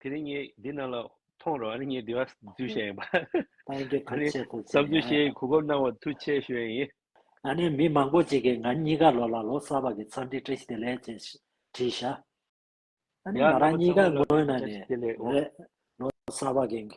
དེ་རིང་ངས་འདི་རྣམས་ལ་མཐོང་རོགས་ཨ་ནི་ངས་འདི་བ་རྫུན་བཤད་ཡིན་པ། ཨ་ནི་བསམ་ཚུལ་བཤད་ཡིན་གུས་བཀུར་གནང་བ་ཐུགས་ཆེ་ཞུ་ཡ་ཡིན། ཨ་ནི་མི་མང་པོ་ཅིག་གིས་ང་གཉིས་ཀ་ལོ་ལ་ལོ་གསར་བ་གི་འཚམས་འདྲི་བཀྲ་ཤིས་བདེ་ལེགས་ཅེས་བྲིས་ཤག་ཨ་ནི་ང་རང་གཉིས་ཀ་ངོ་ན་ནས་རེད་ལོ་གསར་བ་གི།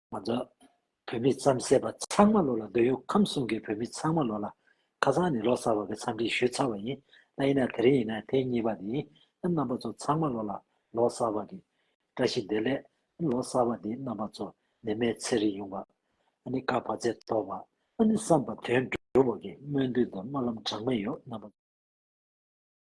ང་ཚོ་བོད་མི་རྩམ་ཟས་པ་ཚང་མ་ལོ་ལ་སྡོད་ཡོང་ཁམས་གསུམ་གྱི་བོད་མི་ཚང་མ་ལོ་ལ་ཁ་སང་ནས་ལོ་གསར་བ་གི་འཚམས་འདྲི་ཞུས་ཚར་བ་ཡིན་ད་ཡིན་ན་དེ་རིང་ཡིན་ན་ཐེངས་གཉིས་པ་དེ་ཡིན་ཨང་རྣམ་པ་ཚོ་ཚང་མ་ལོ་ལ་ལོ་གསར་བ་གི་བཀྲ་ཤིས་བདེ་ལེགས་ཨང་ལོ་གསར་བ་དེ་རྣམ་པ་ཚོ་ནི་མེལ་ཚེ་རིང་ཡོང་བ་ཨང་ནི་དཀར་བ་ཚེ་མཐོ་བ་ཨང་ནི་བསམ་པ་དོན་འགྲུབ་བ་གི་སྨོན་འདུན་དང་སྨོན་ལམ་གྲངས་མེད་ཡོད་རྣམ་པ།